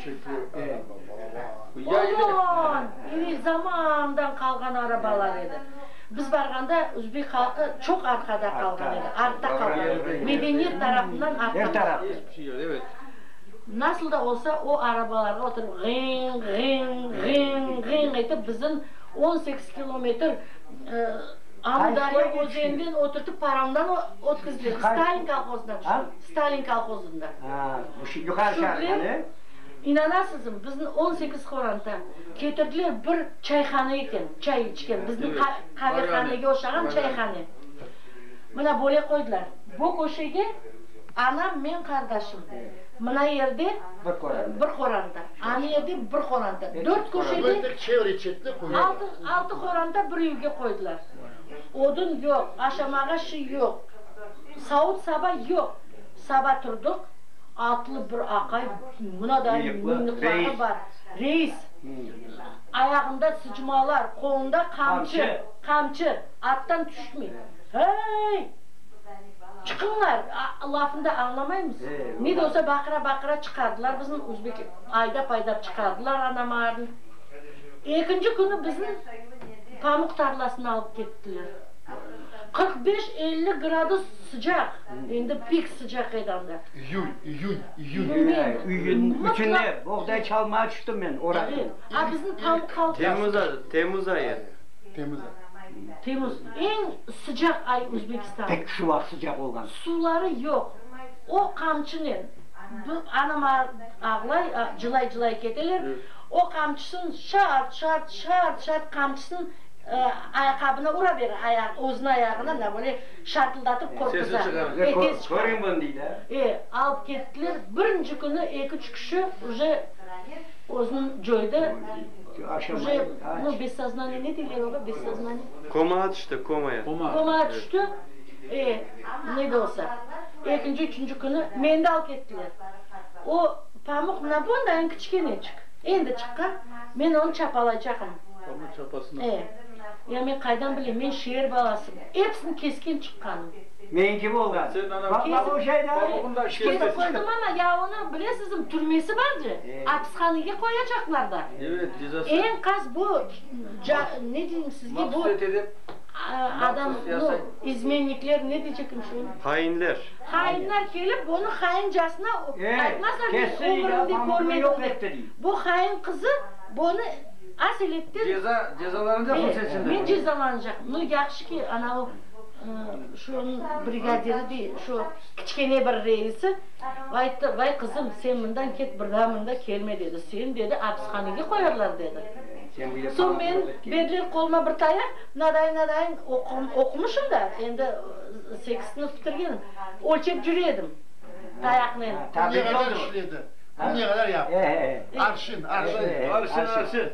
Oman! İri zamandan qalğan arabalar edi. Biz barğanda uzbek halqı çoq arqada qalğan edi, artta qalğan edi, medeniyet tarafından artta qalğan edi. Nasıl da olsa, o arabalarğa oturıp, ğiñ, ğiñ, ğiñ, ğiñ etip, bizim. On sekiz kilometr Amudarya özeninden oturtıp paramdan ötkizdiler, Stalin kolhozından tüştük, Stalin kolhozından. Yuqarı Çarhanı. İnanasızmı, bizni on sekiz horanta ketirdiler, bir çayhana eken, çay içken, bizni qavehanege oşağan çayhane. Mına böyle qoydılar, bu köşege anam, men, qardaşım, mına yerde bir horanda. Anı edi, bir qoranta. Dört köş edi, altı, altı qoranta bir evge qoydılar. Odun yoq, aşamağa şiy yoq, savut-saba yoq. Saba turdıq, atlı bir aqay, mına da mıynıqları bar, reis, ayağında sıçmalar, qolunda qamçı, qamçı, attan tüşmey. Hıy! Çıqıñlar! lafında añlamaymız. Ne de olsa baqıra-baqıra çıqardılar bizni, uzbek aydap-aydap çıqardılar Anamarnı. Ekinci künü bizni pamuq tarlasına alıp kettiler. Qırq beş, elli gradus sıcaq, endi pek sıcaq edi anda. İyül, iyün, iyün. Üçünde boğday çalmağa tüştim men, oraqtım. A bizni pamuq halqası. Temuz ayı. Temmuz, eñ sıcaq ay Özbekistanıñ. Tek şu vaqıt sıcaq olğan. Suları yoq. O qamçınen, bir anam ağlay, cılay-cılay keteler, o qamçısın şart, şart, şart, şart qamçısın ayaqabına ura bere, ayaq, özüniñ ayağına da böyle şartıldatıp qorquza. Sesini çıqarıp, körümen dey de. E, alıp kettiler. Birinci künü eki-üç kişi uje özüni coydı. Уже bu bessoznonie ne deyler oğa, bessoznonie? Komaa tüşti, komaya. Komaa tüşti, e, ne de olsa, ekinci, üçünci künü meni de alıp kettiler. O pamuq mına bundayıñ kiçkeneçik, endi çıqqan, men onı çapalaycaqmın. Pamuq çapasına. E, ya men qaydan bileyim, men şeer balasım, episini kesken çıqqanım. Meñ kim olğan? Baqma bu şeyde. Pamuğını da kesip. Kesip qoydım ama, ya onı bilesizmi, türmesi barcı. Apishanege qoyacaqlar da. Enkaz bu, ca, ne deyim sizge, bu adam, no, izmennikler, ne deycekim şunı? Hainler. Hainler kelip, bunı haincasına aytmazlar, men ömrümde körmedim dep. Bu hain qızı bunı aseletden, men cezalanacaqmın. No, yahşı ki, anavı, şunıñ brigadiri dey, şu kiçkene bir reisi, Ayttı, Vay, qızım, sen mından ket, bir daa mında kelme, dedi. Seni, dedi, apishanege qoyarlar, dedi. Soñ men, berdiler qoluma bir tayaq, mınadayın, mınadayın oqumışım da, endi sekiz sınıf bitirgenim, ölçep jüre edim tayaqnen. Kümge qadar işledi? Kümge qadar yaptı? Arşın, arşın. Arşın, arşın.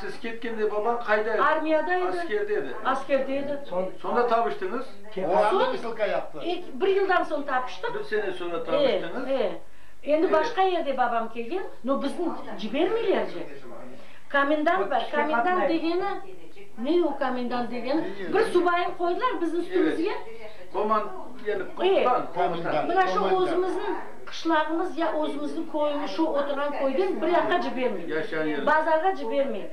Siz ketkende babañ qayda edi? Armiyada edi. Askerde edi. Askerde edi. Sonda tavıştıñız? Oğlandı vısilka yaptı. Soñ, bir yıldan soñ tapıştıq. Bir sene soñra tavıştıñız. E, e. Endi başqa yerde babam kelgen, no bizni cibermeyler ce. Komendant bar, komendant degeni, ne o komendant degeni? Bir subayını qoydılar bizim üstümizge. Koman, yani, komutan. Mına şu özümizniñ. Qışlağımız ya özümizniñ köyümi şu oturğan köyden bir yaqqa cibermey. Bazarğa cibermey.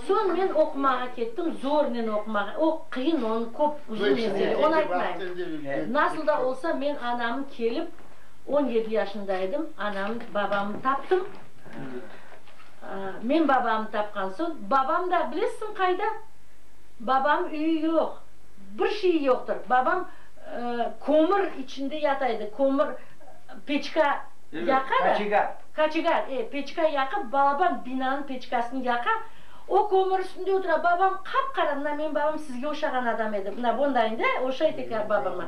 Soñ men oqumağa kettim, zornen oqumağa. O qıyın, onı köp, uzun mesele, onı aytmayım. Nasıl da olsa men anamı kelip, on yedi yaşında edim, anamı, babamı taptım. Men babamı tapqan soñ, babam da bilesiñ qayda? Babam üyü yoq. Bir şey yoqtır. Babam kömür içinde yata edi, kömür peçka yaqa da. Kaçegar. Kaçegar, e, peçka yaqıp, balaban binanıñ peçkasını yaqa, o kömür üstünde otura. Babam qap-qara, mına menim babam sizge oşağan adam edi, mına bundayıñ da, oşay tekrar babama.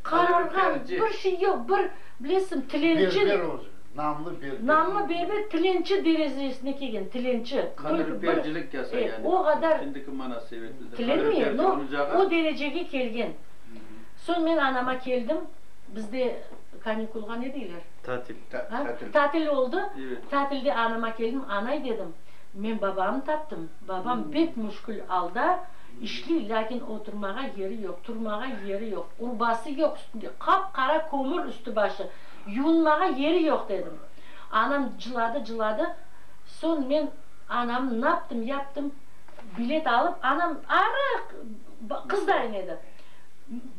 Qararğan, bir şey yoq, bir, bilesiñ, tilenci. Berber özü, namlı berber. Namlı berber tilenci derezesine kelgen, tilenci. Qanırıpercilik yasa, yani, şimdiki manasebeti. Tilenmeyem, no, o derecege kelgen. Soñ men anama keldim, bizde kanikulğa ne deyler? Tatil. A? Tatil oldı, tatilde anama keldim, anay dedim, men babamnı taptım, babam bek müşkül alda, işliy, lâkin oturmağa yeri yoq, turmağa yeri yoq, urbası yoq üstünde, qap-qara kömür üstü-başı, yuunmağa yeri yoq, dedim. Anam cıladı, cıladı, soñ men anamnı naptım, yaptım, Bilet alıp, anam arıq qız da em edi.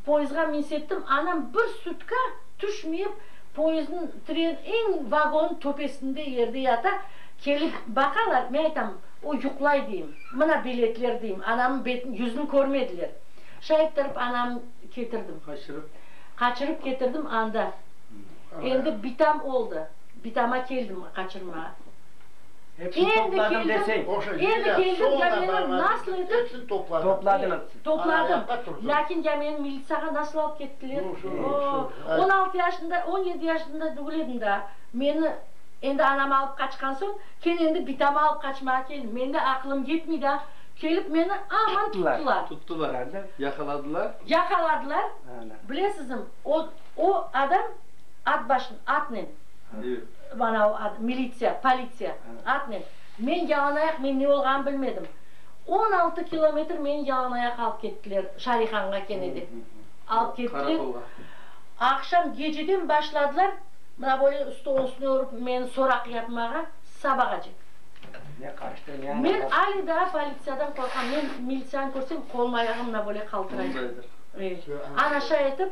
Poezdğa minsettim, anam bir sutka tüşmeyip, poezdniñ, tren, eñ vagonniñ töpesinde yerde yata. Kelip baqalar, men aytam, o yuqlay, deyim. Mına biletler, deyim. Anamnıñ betini, yüzün körmediler. Şayıttırıp anam ketirdim. Qaçırıp? Qaçırıp ketirdim, anda endi bitam oldı. Bitama keldim qaçırmağa. Endi keldim, endi keldim, ya meni nasıl etip topladım, lâkin ya meni militsiyağa nasıl alıp kettiler, o-o, on altı yaşında, on yedi yaşında degil edim daa, meni endi anam alıp qaçqan soñ, ken endi bitamı alıp qaçmağa keldim, mende aqılım yetmey daa, kelip meni aman tuttılar. Tuttılar, ana, yaqaladılar? Yaqaladılar, bilesizmi, o, o adam at başın, atnen. Bana o ad, militsiya, politsiya, atnen. Men yalanayaq, men ne olğanını bilmedim. On altı kilometr meni yalanayaq alıp kettiler, Şarihanğa kene de. Alıp kettiler. Qarakolğa. Aqşam geceden başladılar, mına böyle stolnıñ üstüne urıp meni soraq yapmağa, sabağa cek. Ne qaçtı, ne aña qaçtı. Men ale daa politsiyadan qorqam. Men militsiyanı körsem, qolum-ayağım mına böyle qaltıray. Bunday eter. Ana şay etip.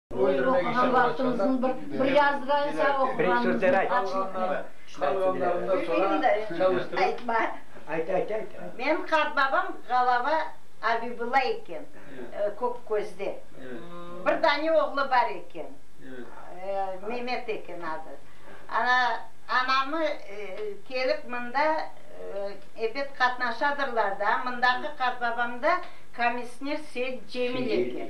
Buyur, oquğan vaqtımıznıñ bir, bir yazğansa oquğanımıznıñ açlıqnen. Bilmeyim de, aytma. Ayt, ayt, ayt. Menim qartbabam Ğalaba Abibulla eken, Kökközde. Bir dane oğlu bar eken, Memet eken adı. Ana, anamı kelip mında, ebet qatnaşadırlar da, mındaki qartbabamda komissner Seit Cemil eken.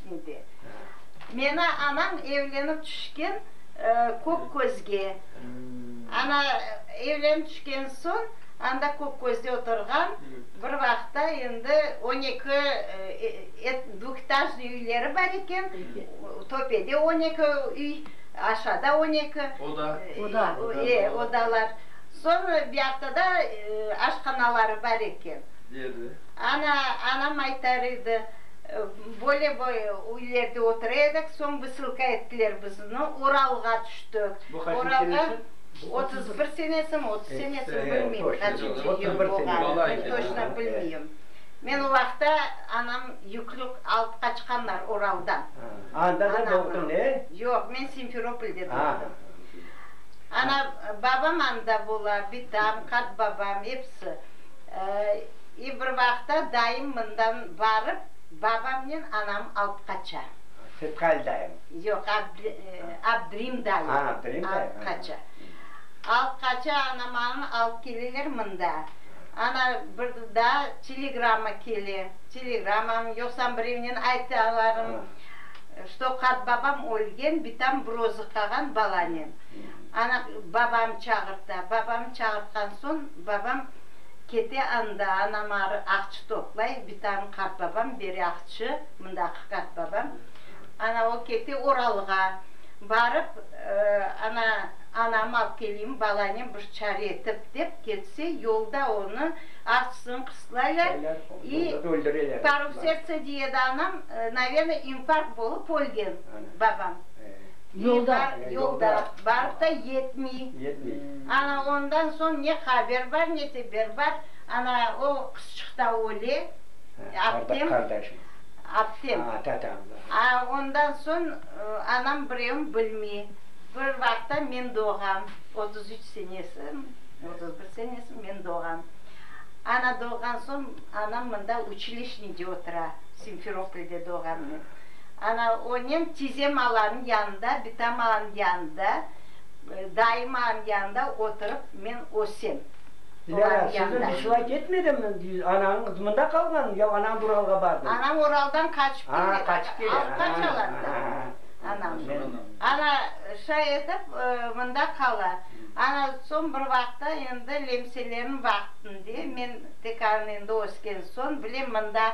edi. Meni anam evlenip tüşken Kökközge, ana, evlenip tüşken soñ, anda Kökközde oturğan, bir vaqıtta endi on eki dvıhetažnıy üyleri bar eken, töpede on eki üy, aşağıda on eki odalar, soñ biyaqta da aşhanaları bar eken. Ana, anam aytar edi. Böyle bir üylerde otura edik, soñ vısılka ettiler bizni, Uralğa tüştik. Bu qaçıncı senesi? Uralğa otuz bir senesim, otuz senesim, bilmeyim, qaçıncı yıl olğanı, toçno bilmeyim. Men o vaqıtta anam yüklük alıp qaçqanlar Uraldan. Anda da doğdun, e? Yoq, men Simferopolde doğdum. Ana, babam anda ola, bitam, qartbabam, episi. E, bir vaqıtta dayım mından barıp, babamnen anam alıp qaça. Sefkal dayım. Yoq, Abdri, Abdrim dayım. A, Abdrim dayım. Alıp qaça. Alıp qaça, anam anı alıp keleler mında. Ana, bir daa telegramma kele. Telegrammam, yoqsam birevnen aytalarım, çto qartbabam ölgen, bitam bir özü qalğan balanen. Ana, babam çağırta. Babam çağırtqan soñ, babam. Kete anda anam arı aqçı toplay, bitam qartbabam beri aqçı, mındaqı qartbabam. Ana o kete Oralğa. Barıp, ana, anamı alıp keleyim, balanem bir çare etip, dep kelse, yolda onı aqçısını qıslaylar i parıv sertsa, diye edi anam, naverna, infarkt bolıp ölgen babam. Yolda, yolda, barıp da yetmey. Yetmey. Ana ondan soñ ne haber bar, ne teber bar, ana o qızçıq ta öle, aptem. Qardaşım. Aptem. A, ta, ta. A, ondan soñ anam birevim bilmey. Bir vaqıtta men doğam, otuz üç senesi, otuz bir senesi men doğam. Ana doğğan soñ, anam mında, uçilişnıde otura, Simferoplde doğam men. Ana, onen tize malaniñ yanında, bitamağanıñ yanında, daimağanıñ yanında oturıp men ösem. Dilara, sizden bir şılay ketmedimmi? Anañıñ mında qalğanmı ya anañıñ Uralğa bardımı? Anañ Uraldan qaçıp keledi. Qaçıp keledi. Alıp qaçalar da anañı. Ana, şay etip mında qala. Ana, soñ bir vaqıtta endi lemseleriñ vaqtında, men tek endi ösken soñ bilem, mında.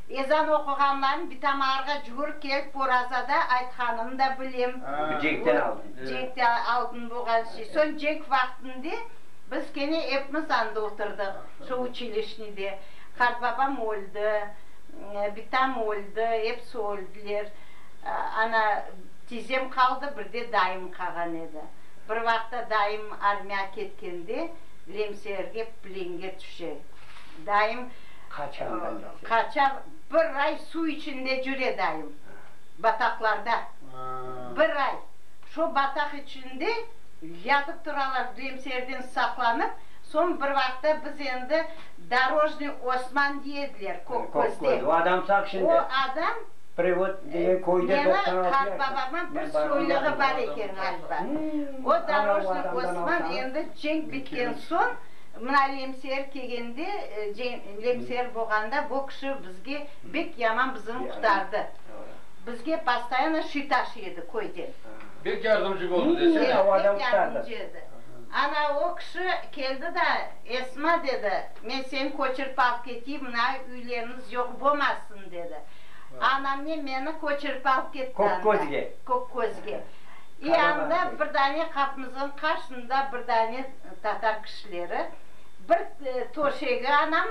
Ezan oquğanlarnı bitam arğa cugurıp kelip porazada aytqanını da bilem. Cenkten aldın. Cenkten aldın boğan şey. Soñ cenk vaqtinde biz kene epimiz anda oturdıq, şu uçilişnıde. Qartbabam öldi, bitam öldi, episi öldüler. Ana tizem qaldı, bir de dayım qağan edi. Bir vaqta dayım armiya ketkende Lemseerge plenge tüşe. Dayım. Qaçandan beri? Qaçan, bir ay suv içinde cüre dayım. Bataqlarda. Bir ay. Şo bataq içinde yatıp turalar Düyemserden saqlanıp, soñ bir vaqıtta biz endi Dorojnıy Osman diye ediler, Kök közde. O adam sağ şimdi? O adam. Prevod degen köyde doqsan altı yaşında. Menim qartbabamnıñ bir soylığı bar eken ğaliba. O Dorojnıy Osman endi cenk bitken soñ. Mına lemser kegende, lemser boğanda bo kişi bizge bek yaman bizini qutardı. Bizge pastayanno şi taşı edi köyden. Bek yardımcı boldı desene. Bek yardımcı edi. Ana o kişi keldi da, Esma, dedi, men seni köçirip alıp keteyim, mına üyleriniz yoq bomasın, dedi. Anamnen meni köçirip alıp ketti anda. Kökközge. Kökközge. E anda bir dane qapımızın qarşında bir dane. tatar kişileri, bir töşegi anam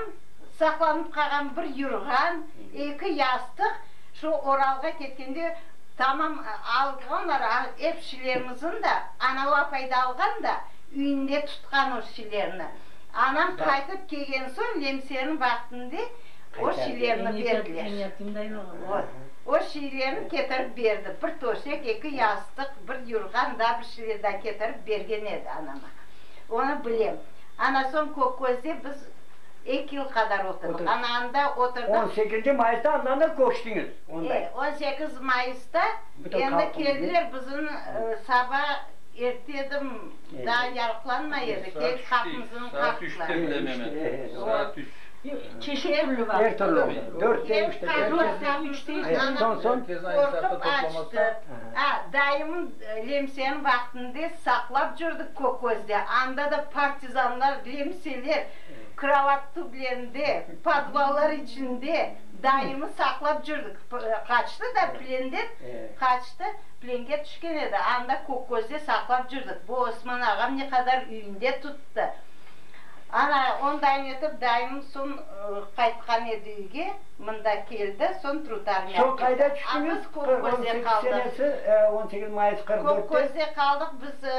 saqlanıp qalğan, bir yurğan, eki yastıq, şu Oralğa ketkende tamam alğanlar, ep şileñizin da, anav apay da alğan da, üyünde tutqan o şilerni. Anam qaytıp kelgen soñ lemseriñ vaqtında o şilerni berdiler. O şilerni ketirip berdi, bir töşek, eki yastıq, bir yurğan, da bir. Şveda ketirip bergen edi anama. Onı bilem. Ana soñ Kökközde biz eki yıl qadar oturdıq. Ana anda oturdıq. On sekizinci mayısta andan da köçtiñiz onda. E, on sekiz mayısta endi keldiler, bizim saba erte edim, daa yarıqlanmay edi, kelip qapımızdan qaqtılar. Çeşit türlü var. Er türlü oldı. Dörtte, üçte, beşte. Soñ, soñ. Qorqıp açtı. A, dayımın. Lemseni vaqtında saqlap cürdik Köközde, anda da partizanlar lemseler krovat tüblerinde, podvallar içinde daimi saqlap cürdik. Qaçtı da plenden, qaçtı, plenge tüşken edi, anda Köközde saqlap cürdik. Bu Osman ağam ne qadar üyünde tuttı. Ana ondayn etip dayım soñ qaytqan edi üyge. Mında kel da, soñ trutar mâkese. Soñ qayda tüştüñiz? Qırq on sekiz senesi, on sekiz mayıs qırq dörtte. Kökközde qaldıq biz.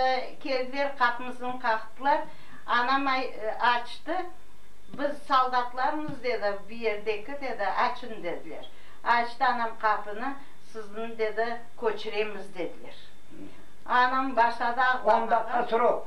Keldiler, qapımıznı qaqtılar. Anam açtı. Biz soldatlarmız, dedi. Bu yerdeki, dedi. Açıñ, dediler. Açtı anam qapını. Sizni, dedi, köçiremiz, dediler. Anam başladı ağlamağa. Onda qaç rob?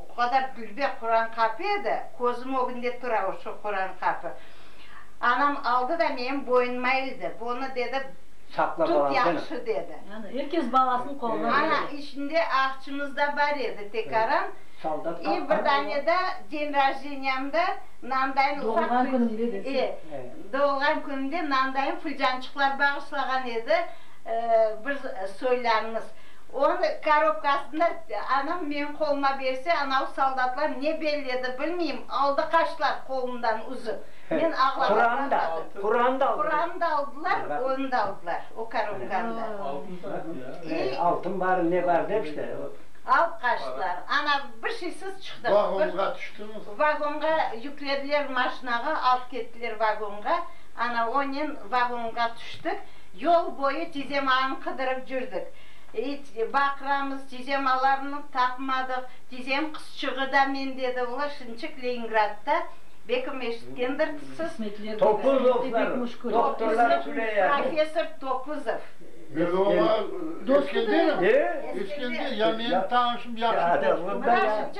O qadar dülber Quran qapı edi, közüm ögünde tura o şu Quran qapı. Anam aldı da menim boynuma ildi, bunı dedi, tut yahşı dedi. Yani er kes balasınıñ qoluna berdi. Ana, içinde aqçımız da bar edi, tekaran, i bir dane de den rajdeniyamda nandayın ufaq. Doğulğan künümde dese. E, doğulğan künümde nandayın fülcançıqlar bağışlağan edi, bir soylarımız. Onı korobkasında anam menim qoluma berse, anav soldatlar ne belledi, bilmeyim, aldı qaçtılar qolumdan uzıp. Men ağlağandan baqıp. Quranı da aldılar. Quranı da aldılar, onı da aldılar, o korobkanı da. İ. Altın bar, ne bar dep işte. Alıp qaçtılar. Ana bir şeysiz çıqtıq. Vagonğa tüştüñiz. Vagonğa yüklediler, maşinağa alıp kettiler vagonğa. Ana onen vagonğa tüştük. Yol boyu tizemanı qıdırıp cürdik. İt, baqramız, tizemanlarnı tapmadıq. Tizem qızçığı da men dedi, olar şınçık Leningradda, bekim eşitkendir siz, professor Topuzov. Biz oña, Eskender, Eskender, ya, menim tanışım yahşı dost.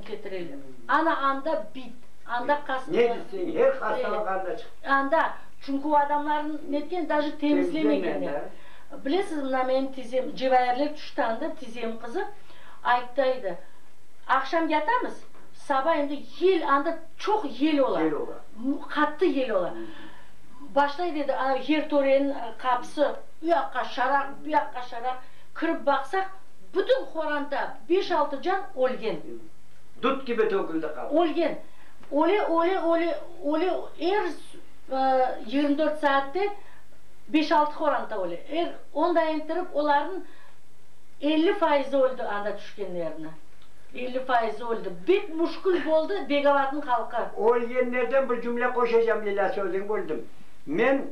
ketireler. Ana anda bit, anda qas. Ne desen, her hastalıq anda çıqıp. Anda, çünki o adamlarnı netken, daji temizlemegenler. Bilesiz, mına menim tizem, cevayirler tüşti anda, tizem qızı aytta edi, aqşam yatamız, saba endi yel, anda çoq yel ola. Yel ola. Qattı yel ola. Başlay berdi, ana yertorenin qapısı, uyaqqa şaraq, buyaqqa şaraq, kirip baqsaq, Bütün Horanta beş-altı can ölgen. Dut kibi töküldi qalq. Ölgen. Öle, öle, öle, öle, er yigirmi dört saatte beş-altı Horanta öle. Er on da entirip, olarnıñ elli fayızı öldi anda tüşkenlerniñ. Elli fayızı öldi. Bek müşkül boldı Begavatnıñ halqı. Ölgenlerden bir cümle qoşacam, Lilâ, sözüñ böldim. Men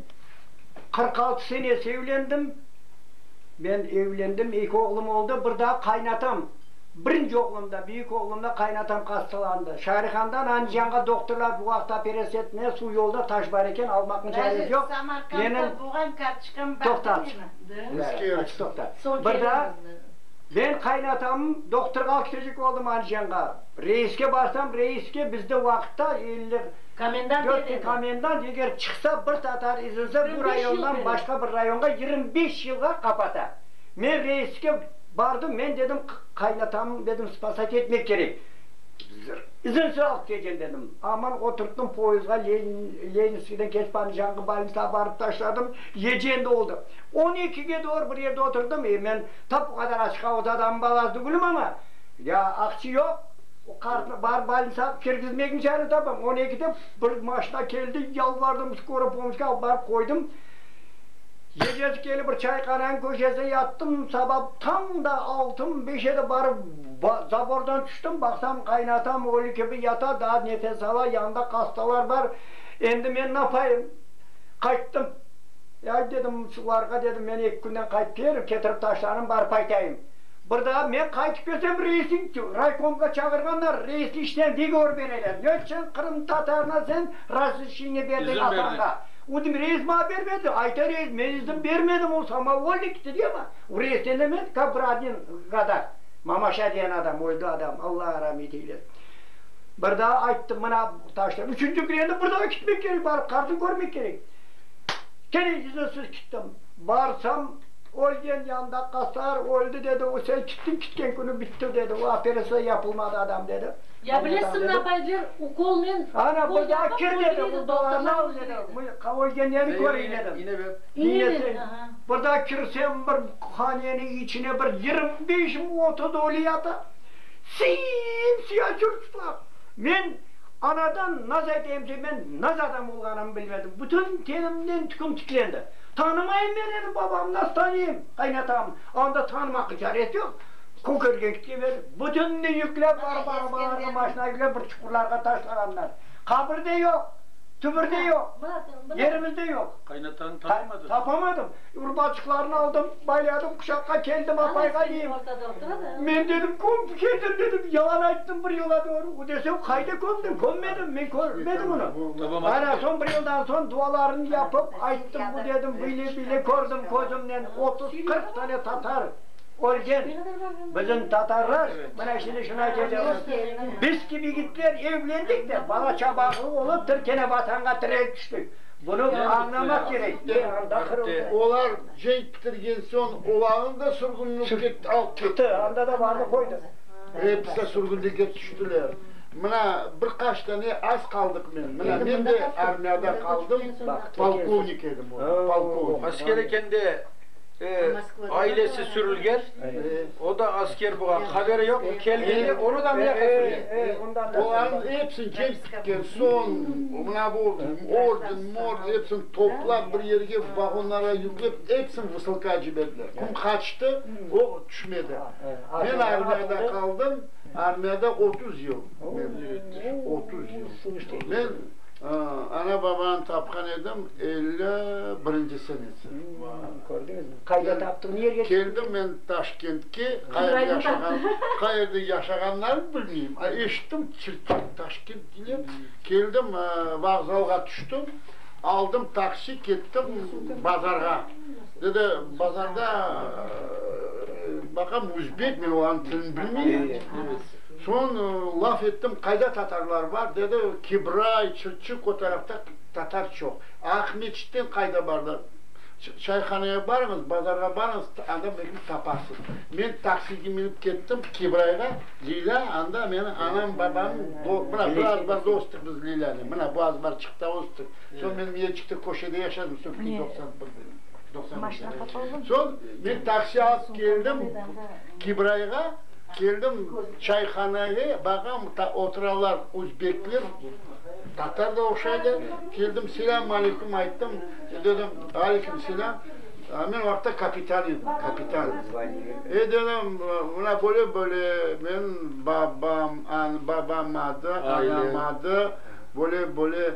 qırq altı senesi evlendim. Men evlendim, eki oğlum oldı, bir daa qaynatam, birinci oğlumda, büyük oğlumda qaynatam qastalandı. Şarihandan Andijanğa doktorlar bu vaqıt operasiya etmeye, suv yolda taş bar eken, almaqnıñ çaresi Daji yoq. Samarqandda Menim bulğan kartoçkam bardı Toqtat. menim. Da. Biz Bere, kelemiz. açı toqta. Soñ Bir daa kelemiz, da. men qaynatamım, doktorğa al ketecek oldım Andijanğa. Reiske barsam, reiske bizde vaqıtta elli, Komendant ne dedi? Komendant eger çıqsa, bir tatar izlese, bu rayondan başqa bir rayonğa yirmi beş yılğa qapata. Men reiske bardım, men dedim, qaynatamnı, dedim, spasat etmek kerek. İzinsiz alıp kelgen, dedim. Aman oturttım poyızdğa, Leninskiyden keçip, Andijanqı balnisağa barıp taşladım, yeci endi oldı. On ekige doğru bir yerde oturdım, e, men tap o qadar açıq avut adamnıñ balasıdı, gülüm, amma, ya aqçı yoq, O qartnı bar bolnitsağa kirgizmegniñ çare tapam. On ekide bir maşina keldi, yalvardım, skora pomocga alıp barıp qoydım. Ecesi kelip bir çayhananıñ köşesine yattım. Saba tam da altımi beşede barıp zabordan tüştim. Baqsam, qaynatam ölü kibi yata, daa nefes ala, yanında qastalar bar. Endi men napayım? Qayttım. Ay dedim, şularğa dedim, men eki künden qaytıp ketirip taşlarım, barıp aytayım. Bir daa men qaytıp kelsem, reisniñ tüv. Raykomğa çağırğanlar, reisni işten vigovor bereler. Ne içün qırımtatarına sen razrişeniye berdiñ atanğa? Udim, reis maña bermedi. Ayta reis, men izin bermedim, o samavulnik, tediyama. O reisten emes, ka bir admin kadar. Mamaşa diyen adam, öldi adam, Alla ramet eylesin. Bir daa ayttım, mına taşla. Üçünci kün endi bir daa kitmek kerek, barıp qartnı körmek kerek. Kene izinsiz kittim. Barsam. Ölgen yanında qasar, öldi dedi, o sen çıktın kitken künü bitti dedi, o operatsiya yapılmadı adam dedi. Ya bilesin ne yapaydılar, ukolnen ukol yapıp öldüreydi doktorlar öldüreydi. Ölgenlerini köreyim dedim. İne ver. İne ver, aha. Burada kirsem bir hanenin içine bir yirmi beş mi otuz ölü yata, sim siyah çurçuqlar. Men anadan naz eteyim ki, men naz adam olğanımı bilmedim, bütün tenimden tüküm tiklendi. Tanımayım men eni, babam nasıl tanıyım, qaynatam. Anda tanımağa caret yoq. Kökergen kiteber. Bütünni yüklep barıp arabalarğa, maşına yüklep bir çuqurlarğa taşlağanlar. Qabir de yoq, tübür de yoq, yerimiz de yoq. Qaynatanı tapamadız? Tapamadım. Urbaçıqlarını aldım, bayladım, quşaqqa keldim, apayğa deyim. Men dedim, kömüp keldim dedim, yalan ayttım, bir yıla doğru. Bu desem, qayda kömdiñ? Kömmedim, men körmedim onı. Ana, soñ bir yıldan soñ dualarını yapıp, ayttım, bu dedim, böyle, böyle kördim közümnen, otuz, qırq tane tatar ölgen. Bizim tatarlar, mına şimdi şuna kelemiz. Biz kibi yigitler evlendik de, bala çabaqlı olıp, bir kene Vatanğa tirek tüştik. Bunı añlamaq kerek. Anda qırıldı. Olar cenk bitirgen soñ, olarnı da sürgünlük etip alıp ketti. Çıqtı, anda da vardı, qoydı. Episi sürgünlige tüştiler. Mına bir qaç tane az qaldıq men. Mına men de armiyada qaldım, polkovnik edim o da, polkovnik. Asker eken de, ailesi sürülgen, o da asker bolğan, haberi yoq, kelgende onu da mına ketirgen. Olarnıñ epsini cenk pitken soñ, mına bu orden, morden epsini toplap bir yerge, vagonlarğa yüklep, epsini vısılka ciberdiler. Kim qaçtı, o tüşmedi. Men armiyada qaldım, armiyada otuz yıl men müvettiş, otuz yıl. Men ana-babanı tapqan edim elli birinci senesi. Kördiñizmi? Qayda taptı, ne yerge çıqtı? Keldim men Taşkentke, qayerde yaşağanlarını bilmeyim, a eşittim, Çirkent, Taşkent deyler. Keldim, vokzalğa tüştim, aldım taksi, kettim bazarğa. Dedi, bazarda baqam özbek, men olarnıñ tilini bilmeyim, soñ laf ettim, qayda tatarlar bar? Dedi, Kibray, Çırçıq, o tarafta tatar çoq. Aqmescitten qayda barlar? Çayhanaya barıñız, bazarğa barıñız, anda belki taparsız. Men taksige minip kettim Kibrayğa, Lilâ, anda meni anam, babam, mına bir azbarda östük biz Lilânen, mına bu azbarçıqta östük, soñ men Miyecikte köşede yaşadım, Söküni doqsan bir. Maşina qapaldı. Soñ men taksi alıp keldim Kibrayğa, keldim çayhanege, baqam, oturanlar uzbekler, tatar da oqşaylar, keldim, selâm aleykum ayttım, dedim, aleykum selâm, men o vaqıtta kapitan edim, kapitan. E, dedim, mına böyle, böyle, menim babam, babam adı, anam adı, böyle, böyle,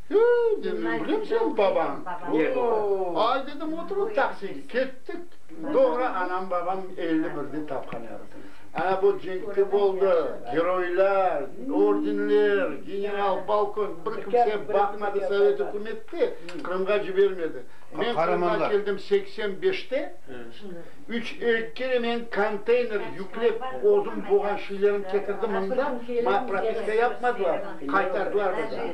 Hey, dedim, bilemsen, babam ne dedi? Ay, dedim, oturıp taksige kettik. Doğru, anam-babam elli birde tapqan edi. Ana bu cenkte boldı, geroylar, ordenler, general, polkovnik, bir kimse baqmadı sovet ükümette, Qırımğa cibermedi. Men Qırımğa keldim seksen beşte, üç erkekle men konteyner yüklep özüm boğan şeylerim ketirdim mında, mañ propiska yapmadılar, qaytardılar bizni.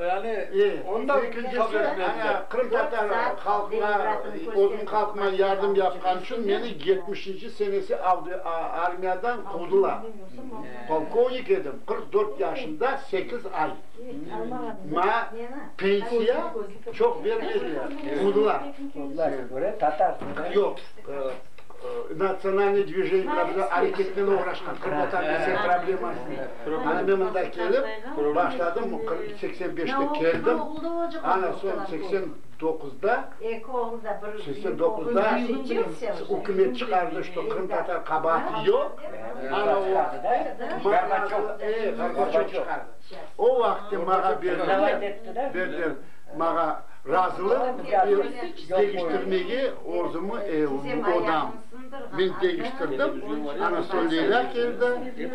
Yani, onda qırımtatar halqına, özüm halqıma yardım yapqan içün meni yetmişinci senesi armiyadan quvdılar. Polkovnik edim, qırq dört yaşında, sekiz ay. Maña pensiya çoq bermediler, quvdılar. Quvdılar, tatar. Yoq. Natsionalnıy dvijeniyalar bilen areketnen oğraşqan qırımtatarlar problemasını, ana men mında kelip başladım, seksen beşte keldim, ana soñ seksen doquzda, seksen doquzda ükümet çıqardı, şto qırımtatar qabaatı yoq, ana o vaqıt, o vaqıt mağa berdiler, berdiler mağa. Razılıq degiştirmege özümi evim, odam, men degiştirdim, ana soñ Leyla keldi,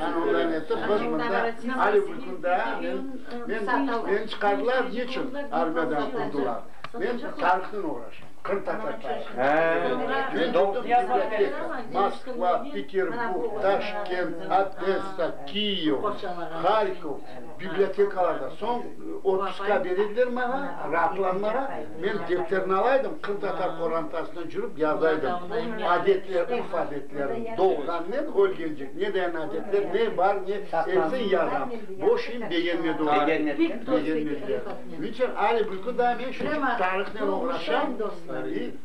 ana ondan etip biz mında ali bir kün daa men, men, meni çıqardılar, niçün armiyadan quvdılar? Men tarihnen uğraşam, qırımtatar tarihı. Men turdım biblioteka, Moskva, Peterburg, Taşkent, Odessa, Kiyev, Harkov, Bibliotekalarda, soñ otpuska berediler maña, raatlanmağa, men depterni alaydım, qırımtatar qorantasına cürip yazaydım, adetler, urf adetlerin, doğğannen ölgence ne deyen adetler, ne bar, ne, epsin yazam. Bu şeyim begenmedi olar. Begenmediler. Niçün? Ali bülkü da men şunçe tarihnen oğraşam.